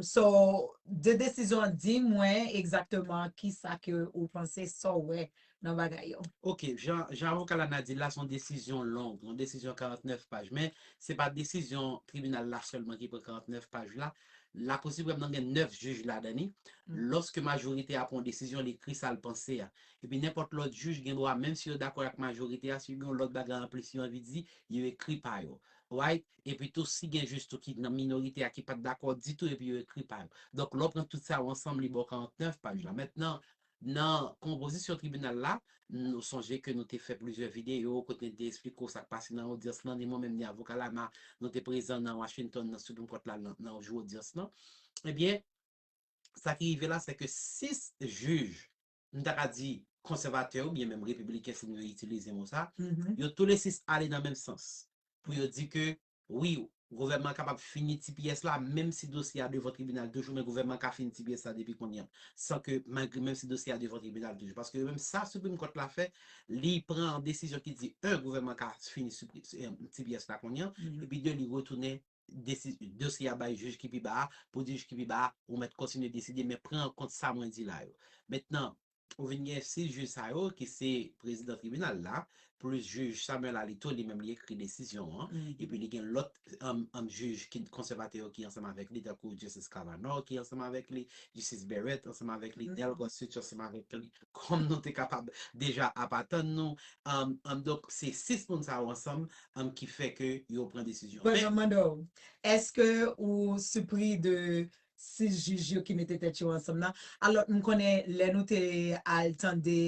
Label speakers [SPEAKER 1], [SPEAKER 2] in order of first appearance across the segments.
[SPEAKER 1] So de desizyon an di mwen egzakteman kisa ke ou panse sa w wè nan bagay yo. Ok, jan
[SPEAKER 2] avoka Lana di l la se yon desizyon long, yon desizyon 49 paj, men se pa desizyon tribinal la sèlman ki pran 49 paj la, Lakou Siprèm nan gen 9 jij ladan li, lòske
[SPEAKER 1] majorite a
[SPEAKER 2] pran yon desizyon li ekri sa l panse a, epi nenpòt lòt jij gen dwa menm si yo dakò ak majorite a si yo gen yon lòt bagay anplis yo anvi di yo ekri pa yo, right? Epi tou si gen jis tou ki nan minorite a ki pat dakò ditou epi yo ekri pa yo. Donk lè w pran tout sa yo ansanm li ba w 49 paj la. Mentnan nan konpozisyon tribinal la, nou sonje ke nou te fè plizyè videyo kote n te esplike w sa k pase nan odyans lan, ni mwen menm ni avoka Lana nou te prezan nan Washington nan Supreme Court la nan jou odyans lan. Ebyen sa ki rive la se ke 6 jij m ta ka di konsèvatè yo byen menm repibliken si m yo itilize mo sa, yo tou le sis
[SPEAKER 1] ale
[SPEAKER 2] nan menm sans pou yo di ke wi gouvènman an kapab fini ti pyès la menm si dosye a devan tribinal toujou men gouvènman ka fini ti pyès la depi kounye a san ke malgre menm si dosye a devan tribinal toujou paske yo menm sa Supreme Court la fè li pran yon desizyon ki di 1 gouvènman ka fini ti pyès la kounye a epi 2 li retounen dosye a bay jij ki pi ba a, pou jij ki pi ba a, ou mèt kontinye deside, men pran an kont sa mwen di la yo. Mentnan, ou vin gen 6 jij sa yo ki se prezidan tribinal la, plis jij Samuel Alito li menm li ekri desizyon an, epi li gen lòt jij ki konsèvatè yo ki ansanm avèk li, tankou Justice Kavanaugh ki ansanm avèk li, Justice Barrett ansanm avèk li, Neil Gorsuch ansanm avèk li. kòm nou te kapab deja ap atann nou, donk se 6 moun sa yo ansanm ki fè ke yo pran desizyon. Bon, map mande w, eske
[SPEAKER 1] ou sipri de 6 jij yo ki mete tèt yo ansanm nan? Alò, m konnen lè nou te al tande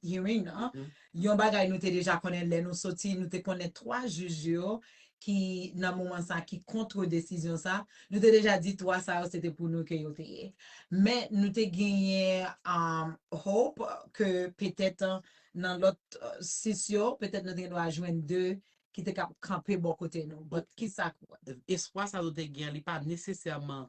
[SPEAKER 1] hearing nan, Yon bagay nou
[SPEAKER 2] te deja
[SPEAKER 1] konnen lè nou soti, nou te konnen 3 jij yo ki nan moman sa ki kontre desizyon sa, nou te deja di 3 sa yo se te pou nou ke yo te ye. Men nou te genyen hope ke petèt nan lòt 6 yo, petèt nou te gen dwa jwenn 2 ki te kab kanpe bò kote nou. But kisa. Espwa sa nou te
[SPEAKER 2] gen an li pa nesesèman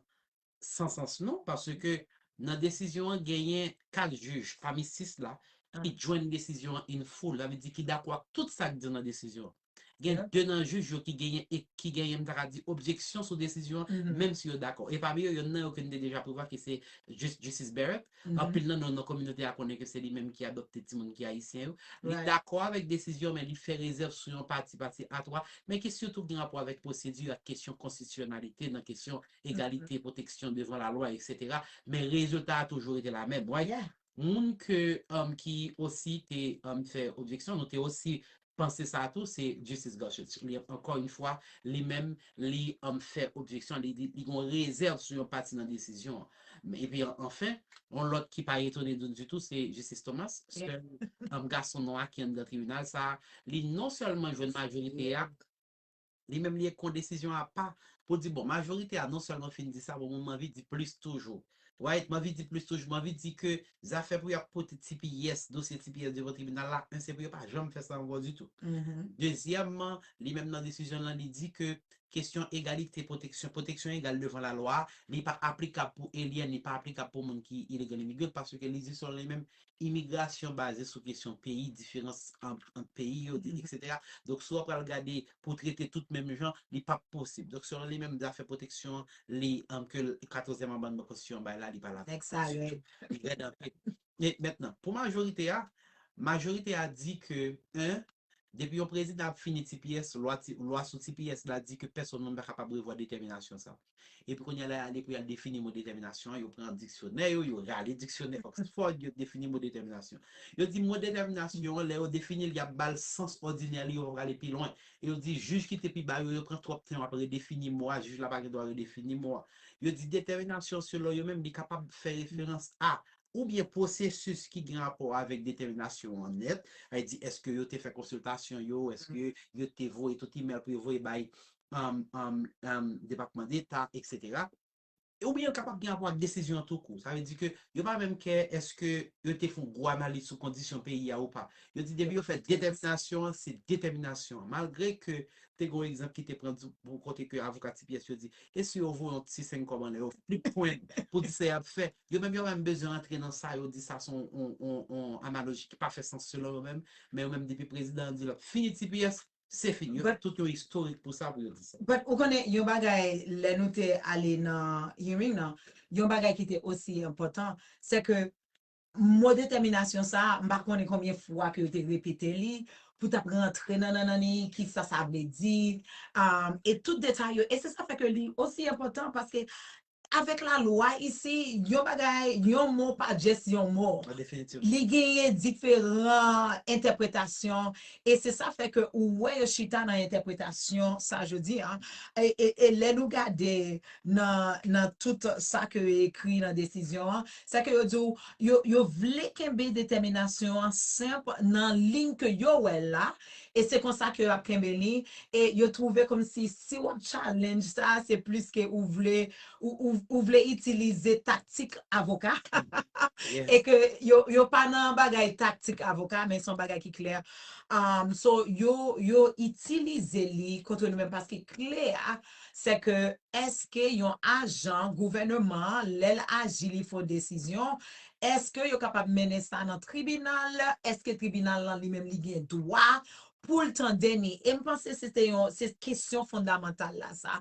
[SPEAKER 2] san sans non paske nan desizyon an genyen 4 jij pami 6 la ki jwenn
[SPEAKER 1] desizyon
[SPEAKER 2] an in full sa vle di ki dakò ak tout sa k di nan desizyon an. Gen 2 nan jij yo ki genyen ki genyen m ta ka di objeksyon sou desizyon an menm si yo dakò
[SPEAKER 1] e pami
[SPEAKER 2] yo yonn nan yo ke n te deja prevwa ki se jij Justice Barrett anpil nan nou nan kominote
[SPEAKER 1] a
[SPEAKER 2] konnen ke se li menm ki adopte timoun ki ayisyen yo li dakò avèk desizyon an men li fè rezèv sou yon pati pati a 3 men ki sitou gen rapò avèk pwosedi ak kesyon konstitisyonalite nan kesyon egalite, pwoteksyon
[SPEAKER 1] devan
[SPEAKER 2] lalwa eksetera men rezilta a toujou rete la menm wè moun ke ki osi te fè objeksyon nou te osi panse sa tou se Justice Gorsuch li ankò yn fwa li menm li fè objeksyon li di li gon rezèv sou yon pati nan desizyon an men epi anfen yon lòt ki pa etone nou ditou se Justice Thomas sèl
[SPEAKER 1] gason
[SPEAKER 2] nwa ki anndan tribinal sa li non sèlman jwenn majorite a. Li menm li ekon desizyon apa pou di bon majorite a non sèlman fin di sa bon mwen manvi di plis toujou right manvi di plis toujou manvi di ke zafè pou yap pote tps dosye tps devan tribinal la 1 se pou yo pa janm fè sa ankò ditou dezyèmman li menm nan desizyon l lan li di ke kesyon egalite pwoteksyon pwoteksyon egal devan lalwa li pa aplikab pou alien li pa aplikab pou moun ki illegal immigrant paske li di selon li menm imigrasyon baze sou kesyon peyi, diferans ant peyi yo, eksetera. Donk,
[SPEAKER 1] si w ap
[SPEAKER 2] pral gade pou trete tout menm jan, li p ap posib. Donk, selon li menm, zafè pwoteksyon an, li, ke katozyèm amannman konstitisyon an bay la, li pa ladan. Nèg sa a rèd. Li rèd anpil. Mentnan, pou majorite a, majorite a di ke 1. Depi yon prezidan ap fini tps, lwa ti, lwa sou tps la di ke pèsonn moun pa kapab revwa detèminasyon sa. Epi kounye a la y ale pou y al defini mo detèminasyon an, yo pran diksyonè yo, yo rale diksyonè Oxford, yo defini mo detèminasyon. Yo di mo detèminasyon an, lè yo defini l, y ap ba l sans òdinè li, yo pa prale pi lwen. E yo di jij ki te pi ba yo, yo pran twòp tan yo ap redefini mo a, jij la pa gen dwa redefini mo a. Yo di detèminasyon selon yo menm li kapab fè referans a oubyen pwosesis ki gen rapò avèk detèminasyon an nèt, sa vle di èske yo te fè konsiltasyon yo, èske yo te voye tout imèl pou yo voye bay Depatman Deta, eksetera. Oubyen l kapab gen rapò ak desizyon an toukou. Sa vle di ke yo pa menm kè èske yo te fè yon gwo analiz sou kondisyon peyi a ou pa. Yo di depi yo fè detèminasyon an, se detèminasyon an. Malgre ke te gen yon egzanp ki te pran kote ke avoka Tipyès yo di, e si yo voye yon ti senn kòb anlè, yo flipp pwen pou di sa y ap fè? Yo menm yo pa menm bezwen antre nan sa yo di sa son on analoji ki pa fè sans selon yo menm, men yo menm depi prezidan an di lap fini tps se fini yo fè tout yon istorik pou sa pou yo di sa. But ou konnen yon bagay
[SPEAKER 1] lè nou te ale nan hearing nan yon bagay ki te osi enpòtan se ke mo detèminasyon sa a m pa konnen konbyen fwa ke yo te repete li pou tap rantre nan nannan li kisa sa vle di e tout detay yo e se sa fè ke li osi enpòtan paske Avèk la lwa isi, yon bagay, yon mo pa just yon mo. An definitif. Li genyen diferan entèpretasyon e se sa fè ke ou wè yo chita nan entèpretasyon sa jodi a. E lè nou gade nan nan tout sa ke yo ekri nan desizyon an, se ke yo di ou yo yo vle kenbe detèminasyon an senp nan liy ke yo wè l la E se konsa ke yo ap kenbe li, e yo twouve kòmsi si w ap challenge sa, se plis ke ou vle, ou vle itilize taktik avoka,
[SPEAKER 2] e ke
[SPEAKER 1] yo pa nan bagay taktik avoka, men se yon bagay ki klè. So, yo itilize li kontre nou menm, paske kle a, se ke èske yon ajan gouvèneman an, lè l aji li fon desizyon, Eske yo kapab mennen sa nan tribinal? Eske tribinal lan li menm li gen dwa pou l tande ni? E m panse se te yon, se kesyon fondamantal la sa.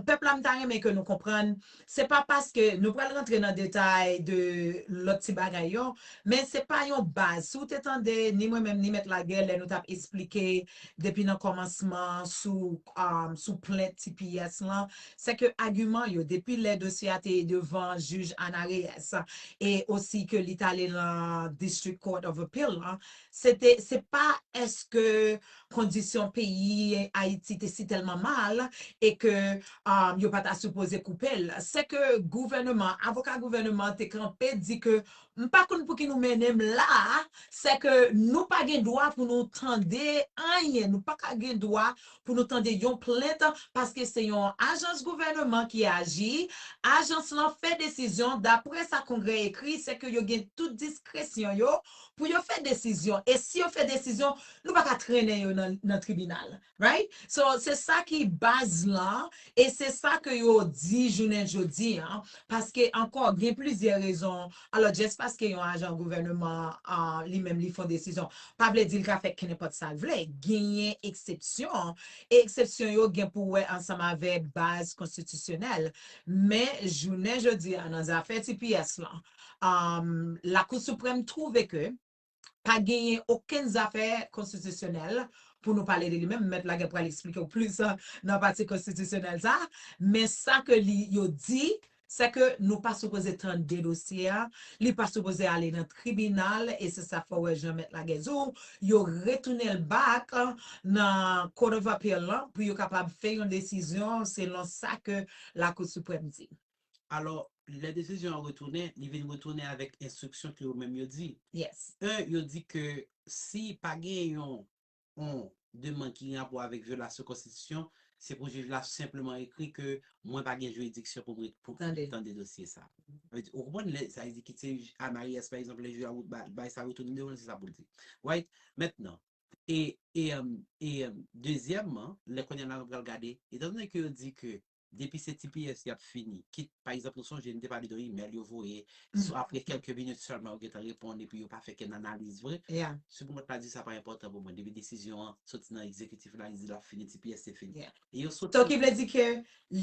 [SPEAKER 1] Pèp la m ta renmen ke nou konprann, se pa paske, nou pral rantre nan detay de lòt ti bagay yo, men se pa yon baz. Si w te tande ni mwen menm ni Mèt Laguè lè nou t ap esplike depi nan kòmansman sou, sou plent tps lan, sè ke agiman yo depi lè dosye a te devan jij Ana Reyes e osi ke li t'ale lan District Court of Appeal lan, se te, se pa eske kondisyon peyi Ayiti te si tèlman mal e ke yo pa ta sipoze koupe'l, sè ke gouvèneman, avoka gouvèneman te kanpe di ke M pa konn pouki nou mennen m la a, sè ke nou pa gen dwa pou nou tande anyen, nou pa ka gen dwa pou nou tande yon plent paske se yon ajans gouvèneman ki aji, ajans lan fè desizyon daprè sa Kongrè ekri, sè ke yo gen tout diskresyon yo pou yo fè desizyon, e si yo fè desizyon, nou pa ka trennen yo nan tribinal. Right? So, se sa ki baz lan e se sa ke yo di jounen jodi an, paske ankò gen plizyè rezon, alò just paske yon ajan gouvèneman an li menm li fon desizyon, pa vle di l ka fè kenenpòt sa l vle. Genyen eksepsyon, e eksepsyon yo gen pou wè ansanm avè baz konstitisyonèl. Men, jounen jodi a nan zafè tps lan, Lakou Siprèm twouve ke. pa genyen okenn zafè konstitisyonèl pou nou pale de li menm, mèt la gen pral eksplike w plis nan pati konstitisyonèl sa a, men sa ke li yo di, sè ke nou pa sipoze tande dosye a, li pa sipoze ale nan tribinal, e se sa fè w wè jan mèt la gen di w, yo retounen l back nan Court of Appeal lan pou yo kapab fè yon desizyon selon sa ke Lakou Siprèm di. Alò,
[SPEAKER 2] lè desizyon an retounen, li vin retounen avèk enstriksyon ke yo menm yo di. Yes. 1, yo di
[SPEAKER 1] ke
[SPEAKER 2] si pa gen yon on demand ki gen rapò avèk vyolasyon konstitisyon, se pou jij la senpleman ekri ke mwen pa gen jiridiksyon pou mwen pou Tande. tande dosye sa. Sa vle di, ou konprann lè sa vle di ki se jij a Maryès pa egzanp lè jij la ba bay sa retounen devan l se sa pou l di. Right? Mentnan, e, e, e dezyèmman, lè kounye a la nou pral gade, etan done ke yo di ke depi se tps yap fini kit pa egzanp nou sonje nou te pale de email yo voye sou apre kèlke minit sèlman yo gentan reponn epi yo pa fè kenn analiz vre Supreme Court la di
[SPEAKER 1] sa pa
[SPEAKER 2] enpòtan pou mwen depi desizyon an soti nan egzekitif la li di lap fini tps se fini e yo soti So ki vle
[SPEAKER 1] di
[SPEAKER 2] ke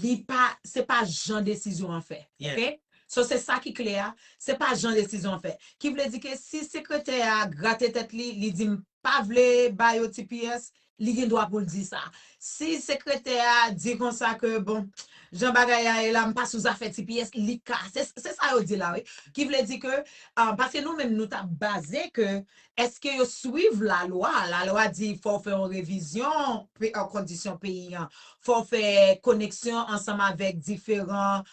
[SPEAKER 1] li pa se pa jan desizyon an fè ok So se
[SPEAKER 2] sa
[SPEAKER 1] ki kle a se pa jan desizyon an fè ki vle di ke si sekretè a grate tèt li li di m pa vle ba yo tps li gen dwa poul di sa si sekretè a di konsa ke bon jan bagay la ye la mpa sou zafè tps li ka se sa yo di la wi ki vle di ke paske nou menm nou ta baze ke eske yo swiv la lwa la lwa di fòw fè yon revizyon kondisyon peyi an fòw fè koneksyon ansanm avèk diferan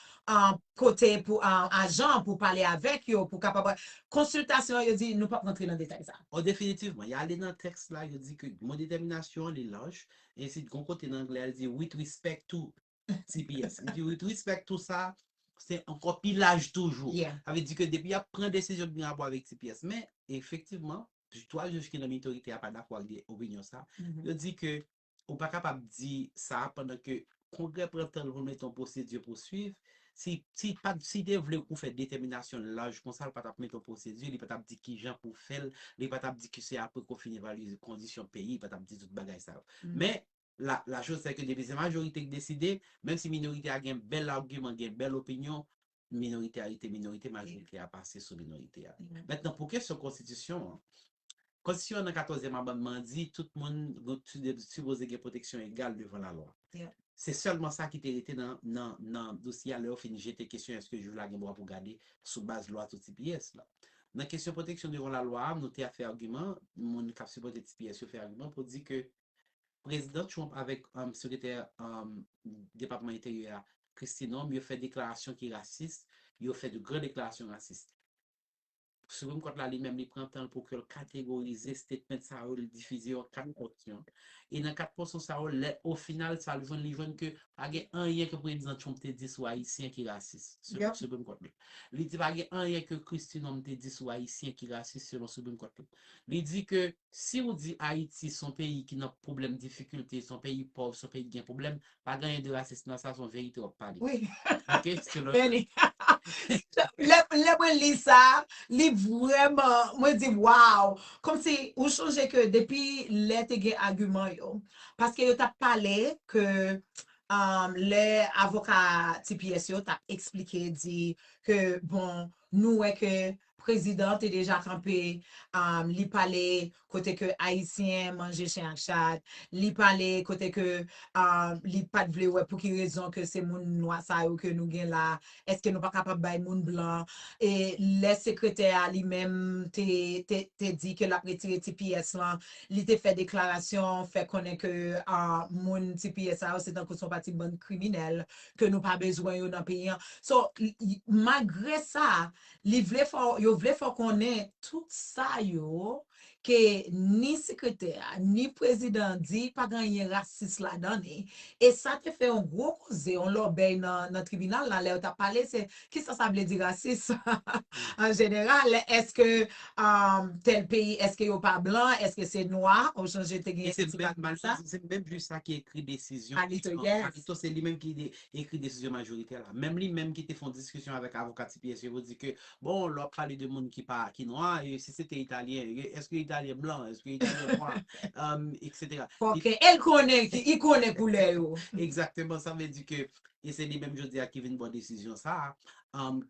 [SPEAKER 1] kote pou ajan an pou pale avèk yo pou kapab konsiltasyon yo di nou pap rantre nan detay sa. O Definitivman, y ale
[SPEAKER 2] nan tèks la yo di ke mo detèminasyon an li laj, ensi gon kote nan anglè a li di with respect to tps li di with respect to sa se ankò pi laj toujou sa vle di ke depi y
[SPEAKER 1] ap
[SPEAKER 2] pran desizyon ki gen rapò avèk tps men efektivman 3 jij ki nan minorite a pa dakò ak opinyon sa yo di ke ou pa kapab di sa pandan ke Kongrè pran tan l pou l mete yon pwosedi pou swiv. Si si pa si te vle pou fè detèminasyon l laj konsa l pa t ap mete yon pwosedi, li pa t ap di kijan pou fè l, li pa t ap di ke se apre ke w fin evalye kondisyon peyi, li pa t ap di tout bagay sa yo. Men, la la chose c'est que depi se majorite ki deside, menm si minorite a gen bèl agiman, gen bèl opinyon, minorite a rete minorite, majorite a pase sou minorite a. Mentnan pou kesyon konstitisyon an, Konstitisyon an nan katòzyèm amandman an di tout moun sipoze gen pwoteksyon egal devan lalwa. Se sèlman sa ki te rete nan dosye a lè yo fin jete kesyon èske jij la gen dwa pou gade sou baz lwa tou tps la. Nan kesyon pwoteksyon devan lalwa a nou te ap fè agiman, moun k ap sipòte tps yo fè agiman pou di ke Prezidan Trump avèk Sekretè Depatman Enteryè a, Kristi Noem, yo fè deklarasyon ki rasis, yo fè de gran deklarasyon rasis. Supreme Court la li menm li pran tan l pou ke l kategorize statement sa yo, li difize yo an 4 pòsyon. E nan 4 pòsyon sa yo, lè o final sa l jwenn, li jwenn ke pa gen anyen ke Prezidan Trump te di sou Ayisyen ki rasis, selon Supreme Court la. Li di pa gen anyen ke Kristi Noem te di sou Ayisyen ki rasis, selon Supreme Court la. Li di ke Siw di ayiti son peyi ki nan pwoblèm difikilte son peyi pòv son peyi ki gen pwoblèm pa gen anyen de rasis nan sa son verite wap pale Wi ok se
[SPEAKER 1] lòt
[SPEAKER 2] Beni
[SPEAKER 1] Lè mwen li sa li vrèman mwen di waw kòmsi ou sonje ke depi lè te gen agiman yo paske yo tap pale ke lè avoka tps yo tap esplike di ke bon nou wè ke Prezidan te deja kanpe li pale kote ke ayisyen manje chen ak chat, li pale kote ke li pat vle wè pouki rezon ke se moun nwa sa yo ke nou gen la, eske nou pa kapab bay moun blan, e lè sekretè a li menm te di ke lap retire tps lan, li te fè deklarasyon fè konnen ke moun tps sa yo se tankou son pati bann kriminèl ke nou pa bezwen yo nan peyi an. So malgre sa Li vle fè w, yo vle fè w konnen tout sa yo ke ni sekretè a, ni prezidan an di pa gen anyen rasis ladan li. E sa te fè yon gwo koze, yon lòbèy nan tribinal la lè yo t ap pale se kisa sa vle di rasis an jeneral, èske tèl peyi èske yo pa blan, èske se nwa ou chanje te gen yon ti bagay konsa. E se menm
[SPEAKER 2] jij sa ki ekri desizyon Alito, yes. Alito se li menm ki ekri desizyon majoritè la. Menm li menm ki te fon diskisyon avèk avoka ti pyè sevo di ke bon lè wap pale de moun ki pa ki nwa e si se te italyen e eske italyen blan eske italyen nwa etc. Fòkè el
[SPEAKER 1] konnen ki i konnen koulè yo. Egzakteman sa vle
[SPEAKER 2] di ke e se li menm jodi a ki vin bò desizyon sa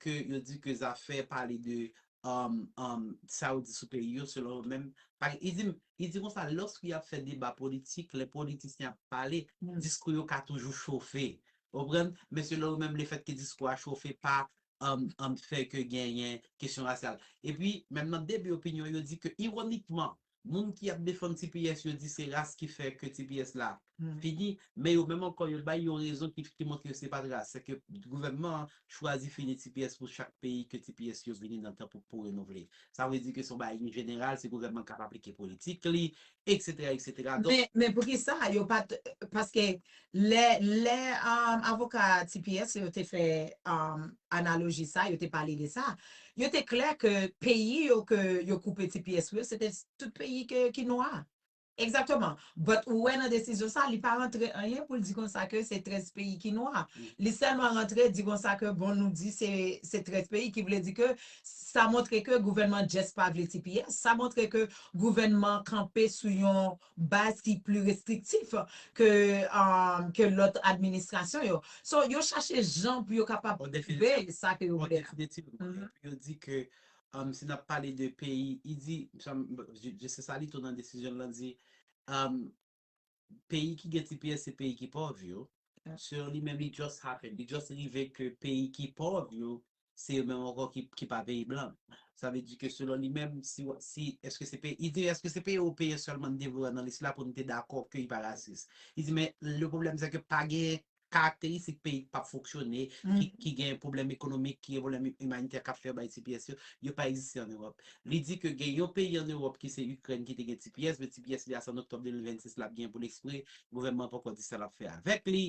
[SPEAKER 2] ke yo di ke zafè pale de sa yo di sou peyi yo selon yo menm pa gen i di Li di konsa, Lòske y ap fè deba politik, lè politisyen ap pale, diskou yo ka toujou chofe. Ou konprann? Men selon ou menm, lefètke diskou a chofe pa fè ke genyen kesyon rasyal. Epi, menm nan debi opinyon, yo di ke ironikman, moun ki ap defann tps yo di se ras ki fè ke tps la fini, men yo menm ankò yo bay yon rezon ki montre yo se fatra, se ke gouvènman an chwazi fini tps pou chak peyi ke tps yo vini nan tan pou renouvle. Sa vle di ke se yon bagay ki jeneral, se gouvènman k ap aplike politik li, eksetera, eksetera. Donk. Men
[SPEAKER 1] poukisa yo pa t, paske lè avoka tps yo te fè analoji sa, yo te pale de sa, yo te klè ke peyi yo ke yo koupe tps pou yo se te tout peyi ki nwa. Exactement. But ou wè nan desizyon sa li pa rantre anyen pou l di konsa ke se 13 peyi ki nwa. Li sèlman rantre di konsa ke bon nou di se se 13 peyi ki vle di ke sa montre ke gouvènman just pa vle tps. Sa montre ke gouvènman kanpe sou yon baz ki pli restriktif ke ke lòt administrasyon yo. So yo chache jan pou yo kapab bay sa ke yo vle a. Yon definitely. Yo di
[SPEAKER 2] ke Umm si nap pale de peyi i di msanm Justin Sali tou nan desizyonl lan di umm peyi ki gen tps se peyi ki pòv yo so li menm li just happen li just rive ke peyi ki pòv yo se yo menm ankò ki pa peyi blan sa vle di ke selon li menm si wap si eske se peyi i di eske se peyi ewopeyen sèlman n te vle wè nan lis la pou n te dakò ke li pa rasis i di men le pwoblèm se ke pa gen karakteristik peyi k pap fonksyone, ki gen pwoblèm ekonomik, ki gen pwoblèm imanitè k ap fè bay tps yo, yo pa egziste an Ewòp. Li di ke gen yon peyi an Ewòp ki se Ikrèn ki te gen tps, men tps li a se an oktòb 2026 l ap gen pou l ekspire, gouvènman an poko di sa l ap fè avèk li,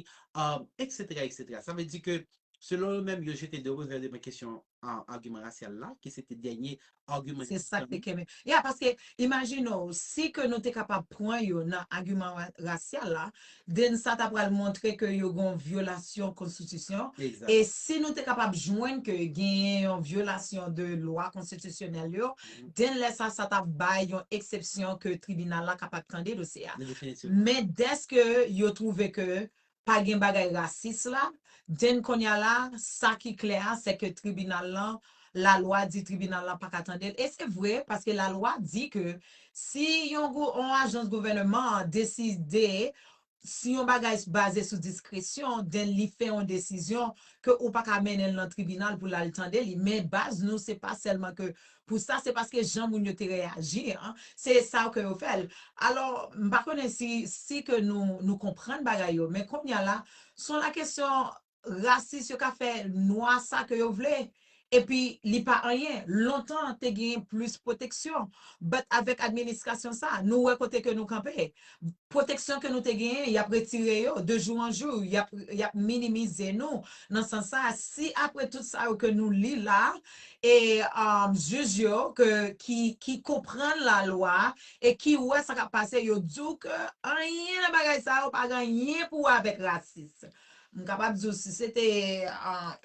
[SPEAKER 2] eksetera eksetera. Sa vle di ke selon yo menm yo jete de revè devan kesyon agiman rasyal la, ki se te dènye agiman. Se sa k te kenbe.
[SPEAKER 1] Ya, paske imajine w, si ke nou te kapab pran yo nan agiman rasyal la, den sa ta pral montre ke yo gen yon vyolasyon konstitisyon, e si nou
[SPEAKER 2] te kapab
[SPEAKER 1] jwenn ke genyen yon vyolasyon de lwa konstitisyonèl yo, den lè sa, sa
[SPEAKER 2] t ap
[SPEAKER 1] bay yon eksepsyon ke tribinal la kapab tande dosye a. Men
[SPEAKER 2] dèske
[SPEAKER 1] yo twouve ke pa gen bagay rasis la, then konnya la sa ki klè a se ke tribinal lan la lwa di tribinal lan paka tande l e se vre paske la lwa di ke si yon yon ajans gouvèneman an deside si yon bagay baze sou diskresyon then li fè yon desizyon ke ou paka mennen l nan tribinal pou l al tande li men baz nou se pa sèlman ke pou sa se paske jan moun yo te reyaji an se sa ke yo fèl alò m pa konnen si si ke nou nou konprann bagay yo men konnya la son la kesyon rasis yo ka fè nwa sa ke yo vle epi li pa anyen lontan te genyen plis pwoteksyon but avèk administrasyon sa nou wè kote ke nou kanpe Pwoteksyon ke nou te genyen, y ap retire yo. De jou an jou, y ap, y ap minimize nou. Nan sans sa a, si apre tout sa yo ke nou li la a, e, jij yo, ke, ki, ki konprann lalwa a, e ki wè sa k ap pase, yo di w ke anyen nan bagay sa yo pa gen anyen pou wè avèk rasis. M kapab di w si se te,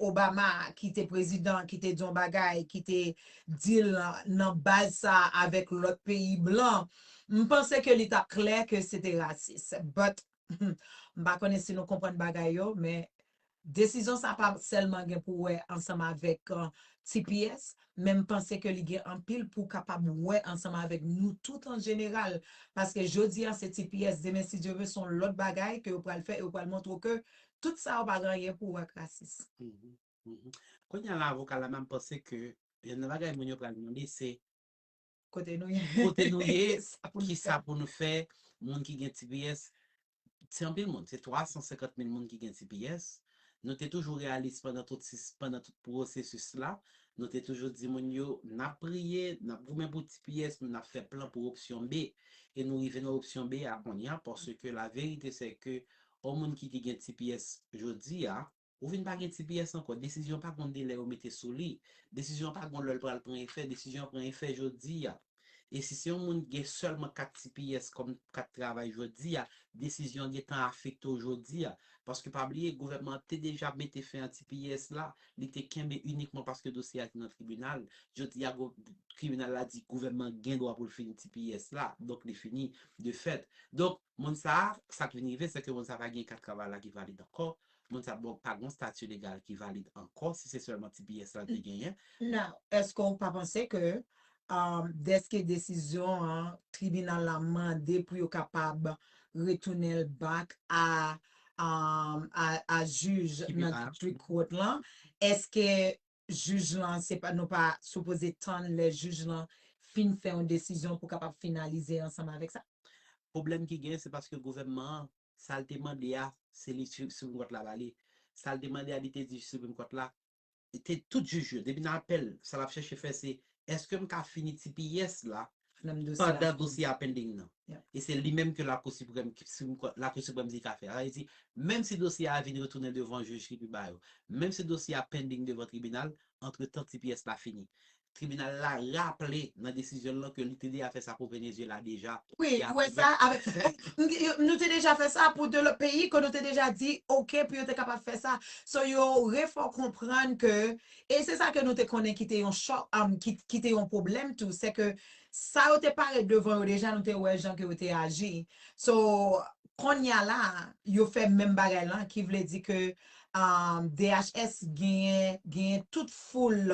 [SPEAKER 1] Obama ki te prezidan, ki te di yon bagay, ki te di l nan baz sa a avèk lòt peyi blan, M panse ke li tap klè ke se te rasis. But, m pa konnen si nou konprann bagay yo, men desizyon sa pa sèlman gen pou wè ansanm avèk tps, men m panse ke li gen anpil pou kapab wè ansanm avèk nou tout an jeneral, paske jodi a se tps, demen si Dye ve se yon lòt bagay ke yo pral fè e yo pral montre w ke tout sa yo pa gen anyen pou wè ak rasis.
[SPEAKER 2] Kounya la avoka Lama m panse ke youn nan bagay moun yo pral mande se Kote nou
[SPEAKER 1] ye? Kote nou ye?
[SPEAKER 2] Ki sa
[SPEAKER 1] pou nou fè?
[SPEAKER 2] Moun ki gen tps, se anpil moun. Se 350 mil moun ki gen tps. Nou te toujou reyalis pandan tout pwosesis la. Nou te toujou di moun yo, n ap priye, n ap goumen pou tps nou, n ap fè plan pou opsyon B. E nou rive nan opsyon B a kounye a, paske laverite se ke yon moun ki te gen tps jodi a, Ou vin pa gen tps ankò, desizyon pa gon delè yo mete sou li, desizyon pa gon lè l pral pran efè, desizyon an pran efè jodi a. E si se yon moun ki gen sèlman kat tps kòm kat travay jodi a, desizyon an gen tan afekte w jodi a. Paske pa bliye, gouvènman an te deja mete fen a tps la, li te kenbe inikman paske dosye a te nan tribinal. Jodi a, tribinal la di gouvènman gen dwa pou l fini tps la, donk li fini de fèt. Donk, Moun sa a, sa k vin rive sèke moun sa a pa gen kat travay la ki valid ankò, moun sa a donk pa gen yon stati legal ki valid ankò si se sèlman tps la l te genyen. Now, èske
[SPEAKER 1] w pa panse ke dèske desizyon an tribinal la mande pou yo kapab retounen l back a a jij nan district court
[SPEAKER 2] lan,
[SPEAKER 1] èske Jij lan se pa nou pa sipoze tann lè jij lan fin fè yon desizyon pou kapab finalize ansanm avèk sa. Pwoblèm ki gen
[SPEAKER 2] se paske gouvènman an sa l te mande a se li Supreme Court la ba li. Sa l te mande a li te di Supreme Court la te tout jij yo depi nan apèl sa l ap chèche fè se èske m ka fini tps la pandan
[SPEAKER 1] dosye a pending nan.
[SPEAKER 2] E se li menm ke
[SPEAKER 1] Lakou
[SPEAKER 2] Siprèm, Supreme Court, Lakou Siprèm di ka fè. Sa vle di, menm si dosye a vin retounen devan jij ki pi ba yo, menm si dosye a pending devan tribinal, antretan ti pyès la fini. Tribinal la raple nan desizyon l lan ke li te deja fè sa pou Venezyela deja. Wi, ou wè sa,
[SPEAKER 1] nou te deja fè sa pou 2 lòt peyi ke nou te deja di ok pou yo te kapab fè sa. So yo refò konprann ke E se sa ke nou te konnen ki te yon chòk, ki te yon pwoblèm tou, se ke sa yo te parèt devan yo deja nou te wè jan ke yo te aji. So, konnya la, yo fè menm bagay lan ki vle di ke DHS genyen, genyen tout foul,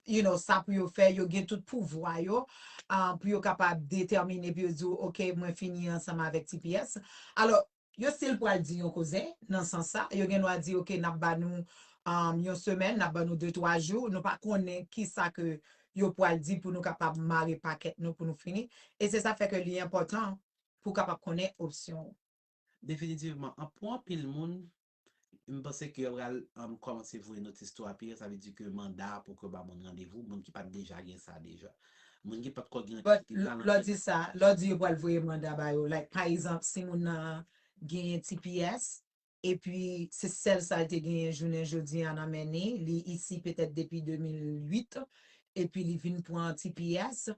[SPEAKER 1] you know, sa pou yo fè, yo gen tout pouvwa yo, pou yo kapab detèmine, pou yo di w, ok, mwen fini ansanm avèk tps. Alò, Yo si l pral di yon koze nan sans sa, yo gen dwa di ok nap ba nou yon semèn, nap ba nou de twa jou, nou pa konnen kisa ke yo pral di pou nou kapab mare pakèt nou pou nou fini, e se sa fè ke li enpòtan pou kapab konnen opsyon ou. Definitivman,
[SPEAKER 2] an pou anpil moun, M panse ke yo pral kòmanse voye notis tou apiye, sa vle di ke manda pou ke yo ba moun randevou, moun ki pat deja gen sa deja. Moun ki pat ko gen yon ti pipi Lè w di sa, lè w di
[SPEAKER 1] yo pral voye manda ba yo, like pa egzanp si moun nan genyen tps epi se sèl sa l te genyen jounen jodi a nan men ni, li isi petèt depi 2008 epi li vin pran tps,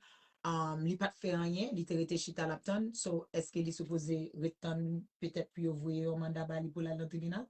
[SPEAKER 1] li pat fè anyen li te rete chita lap tann so eske li sipoze ret tann petèt pou yo voye yon manda bali poul al nan tribinal?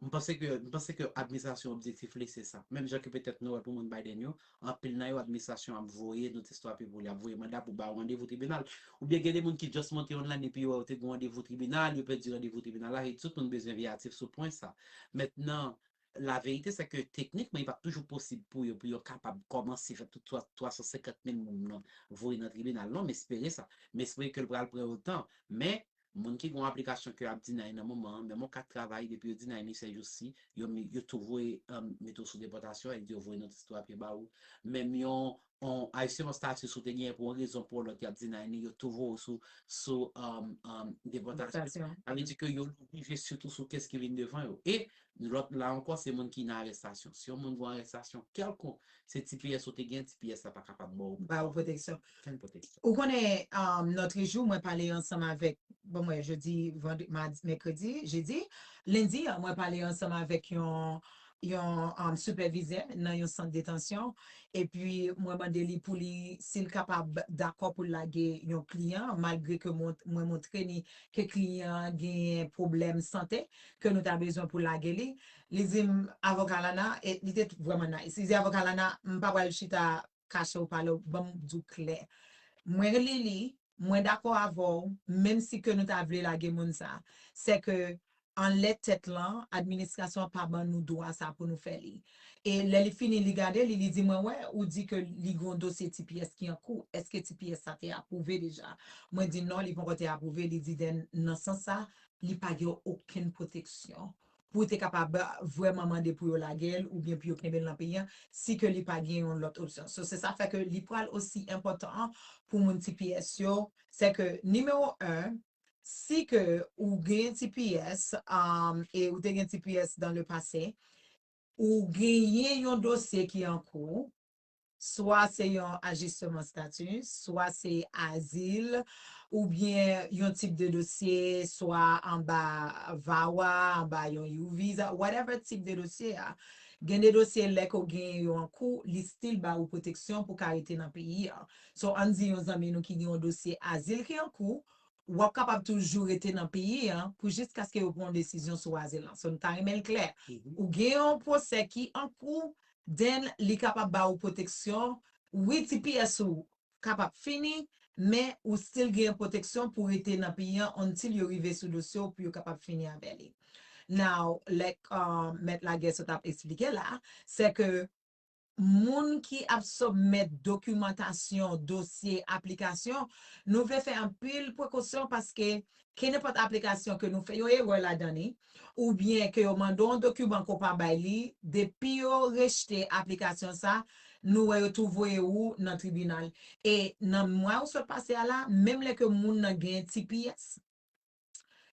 [SPEAKER 1] M panse ke m
[SPEAKER 2] panse ke administrasyon objektif li se sa. Menm jan ke petèt nou wè pou moun Biden yo, anpil nan yo administrasyon an ap voye notice to appeal pou li, ap voye manda pou ba ou randevou tribinal. Oubyen gen de moun ki just monte online epi yo wè yo te gen randevou tribinal, yo pèdi randevou tribinal la, e tout moun bezwen veyatif sou pwen sa. Mentnan, La vérité c'est que techniquement li pap toujou posib pou yo pou yo kapab kòmanse fè tout 350 mil moum nan voye nan tribinal non m espere sa m espere ke l pral pran yon tan men moun ki gen yon aplikasyon ke yo ap deny nan moman an menm yon kat travay depi yo deny li sè jou si yo tou voye mete w sou depòtasyon e di yo voye notise 3 pye ba ou menm yon On ayisyen on status ou te genyen pou on rezon pou on lòt yap deny yo tou voye w sou depòtasyon sa vle di
[SPEAKER 1] ke yo
[SPEAKER 2] jije sitou sou kes ki vin devan yo e lòt la ankò se moun ki nan arestasyon si on moun gon arestasyon kèlkonk se tps ou te genyen tps la pa kapab ba w ba w pwoteksyon
[SPEAKER 1] okenn pwoteksyon ou
[SPEAKER 2] konnen
[SPEAKER 1] nòtrejou mwen pale ansanm avèk bon mwen je di vandredi mèkredi jedi lendi mwen pale ansanm avèk yon yon sipèvizè nan yon sant detansyon epi mwen mande li pou li si l kapab dakò pou l lage yon kliyan malgre ke mwen montre ni ke kliyan an genyen pwoblèm sante ke nou ta bezwen pou lage li li di m avoka lana li te vrèman nice li di avoka lana m pa pral chita kache ou pale ou banm diw klè mwen Lili mwen dakò avèw menm si ke nou ta vle lage moun sa sè ke anlè tèt lan administrasyon an pa ban nou dwa sa pou nou fè li e lè li fini li gade li li di mwen wè ou di ke li gen yon dosye tps ki an kou eske tps sa te apwouve deja mwen di non li poko te apwouve li di den nan sans sa li pa gen okenn pwoteksyon. pou te kapab vrèman mande pou yo lagel oubyen pou yo kenbel nan peyi an si ke li pa gen yon lòt opsyon so se sa fè ke li pral osi enpòtan an pou moun tps yo se ke nimewo 1 si ke ou gen tps e ou te gen tps dan le pase ou genyen yon dosye ki an kou swa se yon ajisteman stati, swa se azil, oubyen yon tip de dosye, swa anba VAWA, anba yon U-Visa, whatever tip de dosye a, gen de dosye lè ke w genyen yo an kou, li still ba ou pwoteksyon pou w ka rete nan peyi a. So, ann di yon zanmi nou ki gen yon dosye azil ki an kou, w ap kapab toujou rete nan peyi a pou jiskaske yo pran yon desizyon sou azil lan. So, nou ta renmen l klè. Ou gen yon pwosè ki an kou, then li kapab ba ou pwoteksyon, wi tps ou ka p ap fini men ou still genyen pwoteksyon pou rete nan peyi an until yo rive sou dosye w pou yo kapab fini avè li. Now like mèt lagè sot ap esplike la, sè ke moun ki ap submit dokimantasyon, dosye, aplikasyon, nou vle fè anpil prekosyon paske Kenenpòt aplikasyon ke nou fè yon erè ladan li, oubyen ke yo mande w yon dokiman ke w pa bay li, depi yo rejte aplikasyon sa, nou wè yo tou voye ou nan tribinal. E nan mwa ou sot pase a la, menm lè ke moun nan gen tps,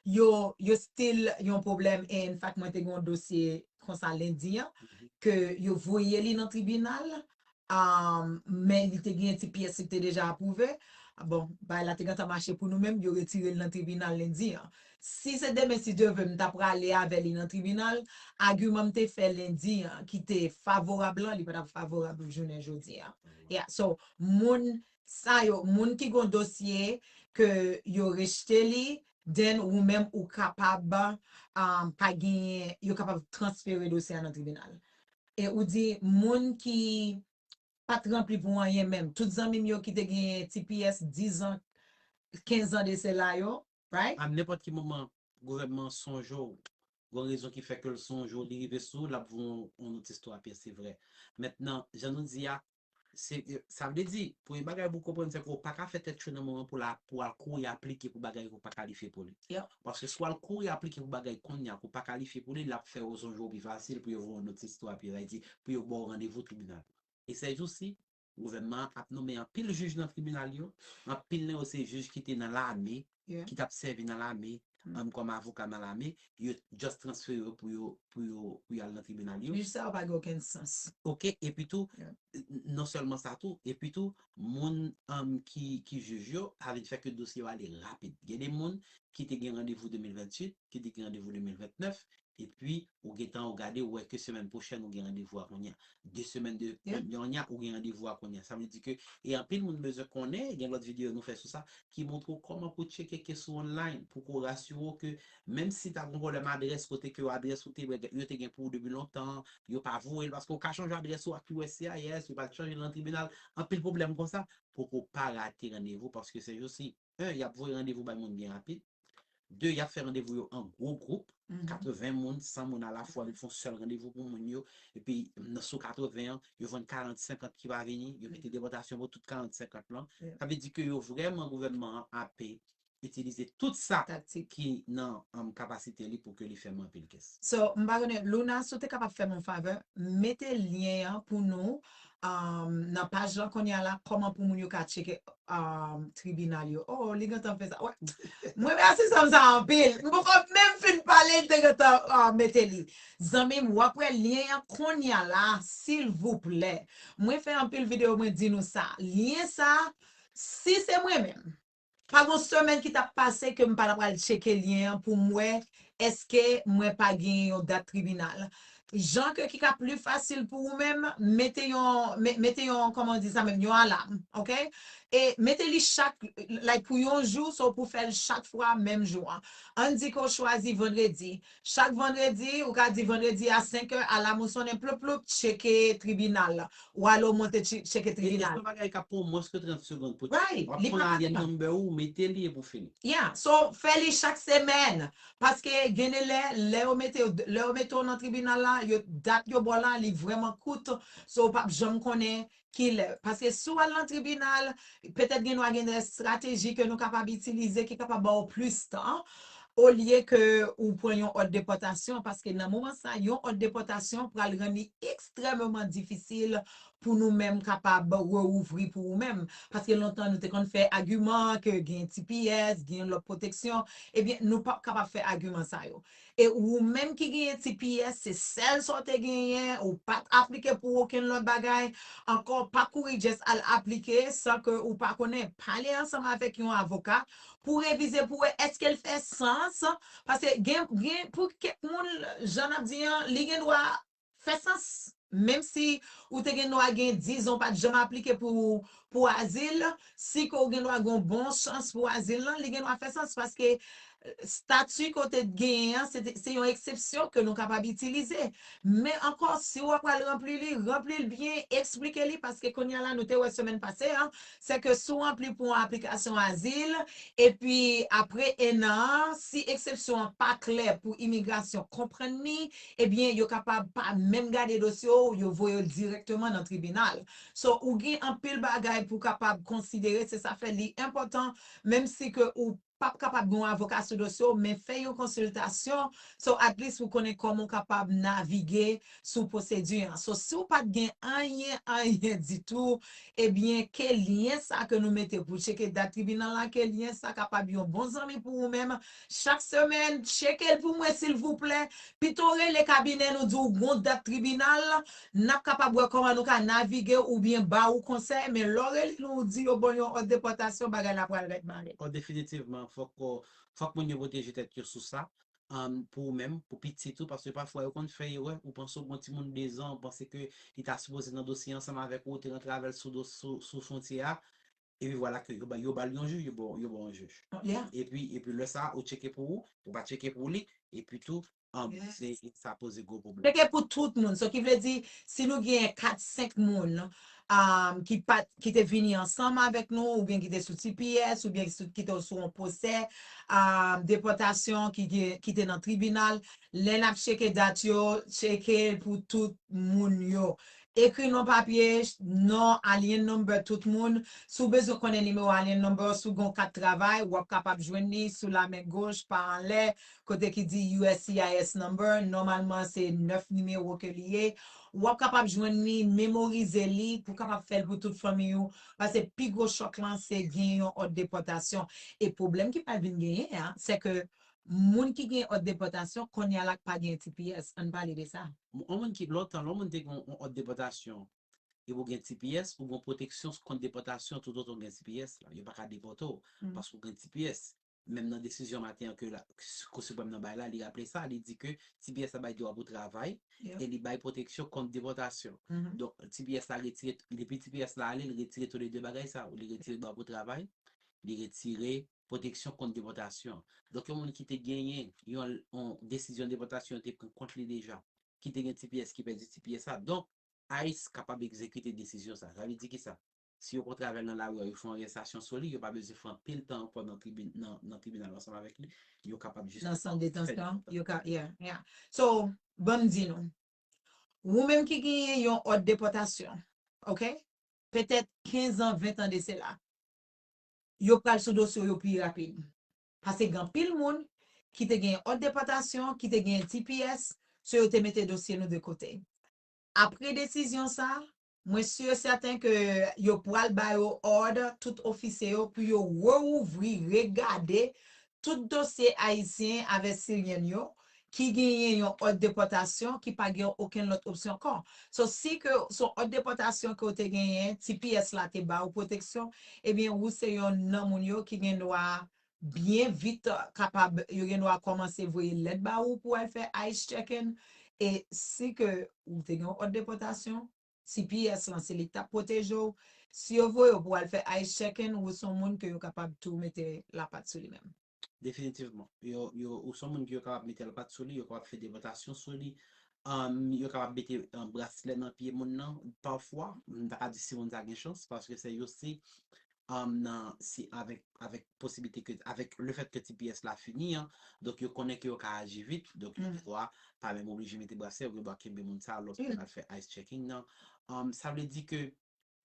[SPEAKER 1] yo, yo still yon pwoblèm e enfak mwen te gen yon dosye konsa lendi an, ke yo voye li nan tribinal, men li te genyen ti pyès li te deja apwouve, bon, bagay la te gentan mache pou nou menm, yo retire l nan tribinal lendi an. Si se demen si Dye ve m ta prale avè li nan tribinal, agiman m te fè lendi an ki te favorab lan, li pa t ap favorab jounen jodi an. Ya, so, moun sa yo, moun ki gon dosye ke yo rejte li, then ou menm ou kapab pa genyen, yo kapab transfere dosye a nan tribinal. E ou di moun ki pat ranpli pou anyen menm, tout zanmi m yo ki te gen tps 10 an, 15 an de sela yo, right? A nenpòt ki moman
[SPEAKER 2] gouvènman an sonje w, gon rezon ki fè ke l sonje w, li rive sou w, l ap voye w yon notis 3 pyès, se vrè. Mentnan, jan nou di a, Se, sa vle di, premye bagay pou w konprann se ke w pa ka fè tèt cho nan moman pou la, pou w al kouri aplike pou bagay ke w pa kalifye pou li. Paske si w al
[SPEAKER 1] kouri
[SPEAKER 2] aplike pou bagay kounye a ke w pa kalifye pou li, l ap fè yo sonje w pi fasil pou yo voye w notis tou api, sa vle di, pou yo ba w randevou tribinal. E sèjousi, gouvènman an ap nonmen anpil jij nan tribinal yo, anpil nan yo se jij ki te nan lame, ki tap sèvi nan lame an kòm avoka nan lame yo just transfere yo pou yo pou yo pou yo al nan tribinal yo. Jij sa yo pa gen okenn
[SPEAKER 1] sans. Ok epi tou
[SPEAKER 2] non
[SPEAKER 1] sèlman sa
[SPEAKER 2] tou epi tou moun an ki ki jij yo sa vin fè ke dosye yo ale rapid gen de moun ki te gen randevou 2028 ki te gen randevou 2029 Epi ou gentan ou gade ou wè ke semèn pwochèn ou gen randevou a kounye a. 2 semèn de yonya ou gen
[SPEAKER 1] randevou a
[SPEAKER 2] kounye a. Sa vle di ke e anpil moun bezwen konnen, gen lòt videyo nou fè sou sa, ki montre w kòman pou tcheke kes ou online, pou ko rasire w ke menm si ta gon pwoblèm adrès kote ke adrès ou te bè yo te gen pou ou depi lontan, yo pa voye l paske ou ka chanje adrès ou ak uscis, yo pral chanje l nan tribinal, anpil pwoblèm konsa, pou ko pa rate randevou paske sejosi. 1 y ap voye randevou bay moun byen rapid, 2 y ap fè randevou yo an gwo gwoup, 80 moun, 100 moun alafwa, yo fè yon sèl randevou pou moun yo, epi sou 80 an, yo vann 40, 50 ki pa vini, yo mete depòtasyon pou tout 40, 50 lan. Sa vle di ke yo vrèman, gouvènman an ape itilize tout sa ki nan kapasite li pou ke li fè manpil kès. So, m pa konnen, Luna,
[SPEAKER 1] si w te kapab fè m yon favè, mete lyen an pou nou nan paj lan kounya la kòman pou moun yo ka tcheke tribinal yo oo li gentan fè sa m remèsi zanm sa anpil m poko menm fin pale li te gentan mete li zanmim wap wè lyen an kounya la silvouplè mwen fè anpil video mwen di nou sa lyen sa si se mwen menm Pa gon semèn ki tap pase ke m pa ta pral tcheke lyen an pou m wè eske mwen pa genyen yon dat tribinal. Jan ke ki ka pli fasil pou ou menm, mete yon, mete yon, kòman ou di sa menm, yon alam, ok? E mete li chak, like pou yon jou, so pou fè l chak fwa menm jou an. Ann di ke w chwazi vandredi, Chak vandredi, ou ka di vandredi a 5 è, alam ou sonnen ploup ploup, tcheke tribinal. Ou ale ou monte tcheke tribinal. Gen yon bagay
[SPEAKER 2] kap
[SPEAKER 1] pran mwens
[SPEAKER 2] ke 30 segond pou tcheke. Right, li pa pran tan. Wap pran AN
[SPEAKER 1] number
[SPEAKER 2] ou, mete li epi ou fini. Yeah, so fè
[SPEAKER 1] li chak semèn. Paske gen de lè, lè yo mete yo, lè yo mete w nan tribinal la, yo dat yo ba w la li vrèman kout, so ou pap janm konnen Kilè? Paske si w al nan tribinal, petèt gen dwa gen de estrateji ke nou kapab itilize ki kapab ba w plis tan, olye ke ou pran yon òd depòtasyon, paske nan moman sa a, yon òd depòtasyon pral rann li ekstrèmeman difisil pou nou menm kapab reouvri pou ou menm. Paske lontan nou te konn fè agiman ke gen tps, gen lòt pwoteksyon, ebyen nou p ap kapab fè agiman sa yo. E ou menm ki genyen tps se sèl sa w te genyen, ou pa t aplike pou okenn lòt bagay ankò, pa kouri just al aplike san ke ou pa konnen, pale ansanm avèk yon avoka pou revize pou wè èske l fè sans, paske gen gen pou kèk moun jan n ap di an li gen dwa Fè sans, menm si ou te gen dwa gen dizon pat janm aplike pou pou azil, si ke ou gen dwa gen yon bon chans pou azil lan, li gen dwa fè sans paske stati ke ou te genyen an se te se yon eksepsyon ke nou kapab itilize. Men ankò si ou apral ranpli li, ranpli l byen, eksplike li paske kounye a la nou te wè semèn pase a, se ke si w ranpli pou yon aplikasyon azil epi apre ennan an si eksepsyon an pa klè pou imigrasyon konprann li ebyen yo kapab pa menm gade dosye w yo voye l dirèkteman nan tribinal so ou gen anpil bagay pou kapab konsidere se sa fè li enpòtan menm si ke ou pap kapab gen yon avoka sou dosye w men fè yon konsiltasyon so at least pou konnen kòman w kapab navige sou pwosedi an so si w pat gen anyen anyen ditou ebyen ke lyen sa ke nou mete pou w tcheke dat tribinal la ke lyen sa kapab yon bon zanmi pou ou menm Chak semèn, tcheke l pou mwen silvouplè. Pito w rele kabinè nou di w gon dat tribinal, n ap kapab wè kòman nou ka navige oubyen ba ou konsèy, men lè w rele nou ou di yo ban w yon òd depòtasyon, bagay la pral rèd bare. O Definitivman,
[SPEAKER 2] fòk fòk moun yo pwoteje tèt yo sou sa, pou ou menm, pou pitit ou, paske pafwa yo konn fè erè, ou panse ou gon timoun 2 zan, ou panse ke li ta sipoze nan dosye ansanm avèk ou, ou te rantre avè l sou fwontyè a, Epi vwala ke yo ba l yon jij, yo ba w yon jij. Epi
[SPEAKER 1] lè sa a,
[SPEAKER 2] ou tcheke pou ou, ou pa tcheke pou li, epi tou, sa
[SPEAKER 1] poze gwo
[SPEAKER 2] pwoblèm. Tcheke pou tout moun. Sa
[SPEAKER 1] ki vle di, si nou genyen kat, senk moun ki te vini ansanm avèk nou, oubyen ki te sou tps, oubyen ki te sou yon pwosè depòtasyon ki te nan tribinal, lè n ap tcheke dat yo, tcheke pou tout moun yo. Ekri non papye, non, alien number tout moun. Si w bezwen konnen nimewo alien number si w gen yon kat travay, w ap kapab jwenn li sou lamen goch pa anlè kote ki di uscis number, nòmalman se 9 nimewo ke li ye. W ap kapab jwenn li, memorize li pou w kapab fè l pou tout fanmiy ou pase pi gwo chòk lan se gen yon òd depòtasyon e pwoblèm ki pral vin genyen an se ke Moun ki gen òd depòtasyon konnya la k pa gen tps, ann pale de sa. Yon moun ki, lontan, lè
[SPEAKER 2] yon moun te gen yon òd depòtasyon epi ou gen tps, ou gen yon pwoteksyon kont depòtasyon toutotan ou gen tps la. Yo pa ka depòte w paske ou gen tps. Menm nan desizyon maten an ke Kou Siprèm nan bay la, li raple sa, li di ke tps la bay dwa pou travay e li bay pwoteksyon kont depòtasyon. Donk, tps la retire, depi tps la ale, li retire tou le de bagay sa yo. Li retire dwa pou travay, li retire pwoteksyon kont depòtasyon. Donk yon moun ki te genyen yon desizyon depòtasyon yo te pran kont li deja, ki te gen tps ki pèdi tps la, donk ice kapab egzekite desizyon sa. Sa vle di ki sa? Si yo kontre avè l nan lari a, yo fè yon arèstasyon sou li, yo pa bezwen fè anpil tan ankò nan tribinal ansanm avèk li, yo kapab jis fè depòtasyon. Nan sant detansyon,
[SPEAKER 1] yo ka, yeah,
[SPEAKER 2] yeah. So,
[SPEAKER 1] ban m di nou, wou menm ki genyen yon òd depòtasyon, ok, petèt 15 an, 20 an de sela, yo pral sou dosye w yo pi rapid. Pase gen anpil moun ki te genyen òd depòtasyon, ki te genyen tps, so yo te mete dosye nou de kote. Apre desizyon sa, mwen si e sèten ke yo pral ba yo òd, tout ofisye yo, pou yo reouvri, regade tout dosye Ayisyen avè Siryen n yo ki genyen yon òd depòtasyon ki pa gen okenn lòt opsyon kò. So si ke s on òd depòtasyon ke w te genyen, tps la te ba ou pwoteksyon, ebyen ou se yon nan moun yo ki gen dwa byen vit kapab, yo gen dwa kòmanse voye lèt ba ou pou al fè ice checking e si ke ou te gen yon òd depòtasyon, tps lan se li kap pwoteje w, si yo voye w pou al fè ice checking wou son moun ke yo kapab tou mete la pat sou li menm. Definitivman.
[SPEAKER 2] Yo yo ou son moun ke yo kapab mete la pat sou li, yo kapab fè depòtasyon sou li, umm yo kapab mete braslè nan pye moun nan pafwa, m ta ka di si moun sa gen chans paske se yo se nan si avèk avèk posiblite ke avèk le fèt ke tps la fini an donk yo konnen ke yo ka aji vit donk yo dwa pa menm oblije mete brasè yo gen dwa kenbe moun sa lòske yo pral fè ice checking nan sa vle di ke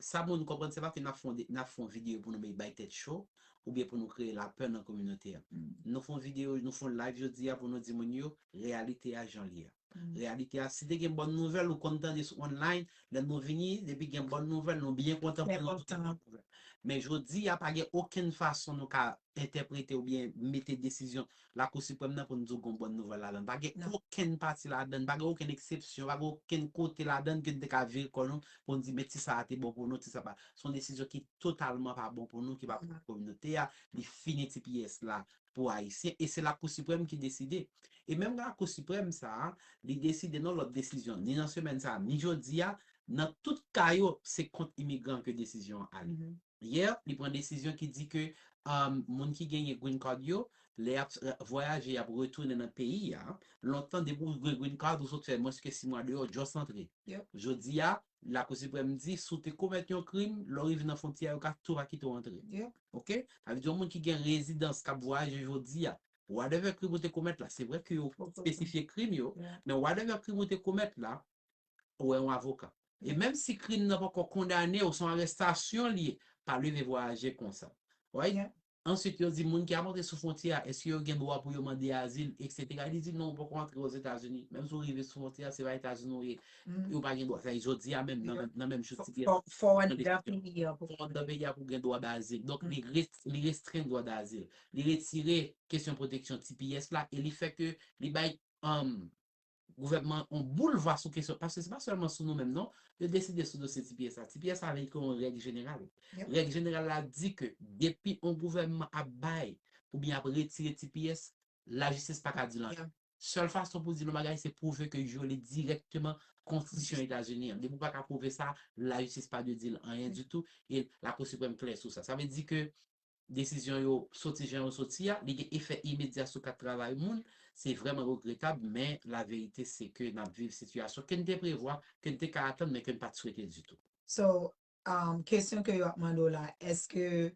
[SPEAKER 2] sa moun konprann se pa ke nap fon nap fon video pou nou mete bay tèt cho oubyen pou nou kreye lapè nan kominote a nou fon video nou fon live jodi a pou nou di moun yo reyalite a janl ye a. Reyalite a si te gen bòn nouvèl ou konn tande sou online lè nou vini depi gen bòn nouvèl nou byen kontan pou nou tande bòn nouvèl men jodi a pa gen okenn fason nou ka entèprete oubyen mete desizyon lakou siprèm nan pou n di w gon bòn nouvèl ladan l pa gen okenn pati ladan l pa gen okenn eksepsyon pa gen okenn kote ladan l ke n te ka vire kò nou pou n di men ti sa a te bon pou nou ti sa pa s on desizyon ki totalman pa bon pou nou ki pa bon pou kominote a li fini tps la pou Ayisyen e se Lakou Siprèm ki deside. E menm Lakou Siprèm sa a, li deside nan lòt desizyon, ni nan semèn sa a, ni jodi a, nan tout ka yo, se kont imigran ke desizyon an ale. Yè, li pran desizyon ki di ke moun ki genyen Green Card yo, lè y ap vwayaje, y ap retounen nan peyi a, lontan depi ou gen Green Card, ou sot fè mwens ke si mwa deyò, just antre. Jodi a, Lakou Siprèm di si w te komèt yon krim, lè w rive nan fwontyè a yo ka tou pa kite w antre. Ok? Sa vle di yon moun ki gen rezidans k ap vwayaje jodi a, whatever krim ou te komèt la, se vre ke yo espesifye krim yo, men whatever krim ou te komèt la, ou wè yon avoka. E menm si krim nan poko kondane w, se yon arestasyon l ye, pa leve vwayaje konsa. Right? Answit yo di moun ki ap antre sou fwontyè a eske yo gen dwa pou yo mande azil etc. Li di non ou poko antre Ozetazini, menm si ou rive sou fwontyè a se pa Etazini ou ye e ou pa gen dwa, sa e jodi a menm nan menm jou ti piè
[SPEAKER 1] fò anndan peyi a pou ou gen
[SPEAKER 2] dwa dazil. Donk li restrenn dwa dazil, li retire kesyon pwoteksyon tps la e li fè ke li bay Gouvènman an on boul va sou kesyon, paske se pa sèlman sou nou menm non, yo deside sou dosye ti piye sa. Ti piye sa vle di ke on règ jeneral. Règ jeneral la di ke depi on gouvènman ap bay oubyen ap retire ti piye, lajistis pa ka di l anyen. Sèl fason pou di l on bagay se pwouve ke vyole dirèkteman konstitisyon Etazini an. Depi ou pa ka pwouve sa, lajistis pa dwe di l anyen ditou e Lakou Siprèm klè sou sa. Sa vle di ke Desizyon yo soti jan yo soti a, li gen efè imedya sou kat travay moun, se vrèman regretab men la verite se ke n ap viv sitiyasyon ke n te prevwa, ke n te ka atann men ke n pa t swete ditou. So,
[SPEAKER 1] kesyon ke yo ap mande w la, èske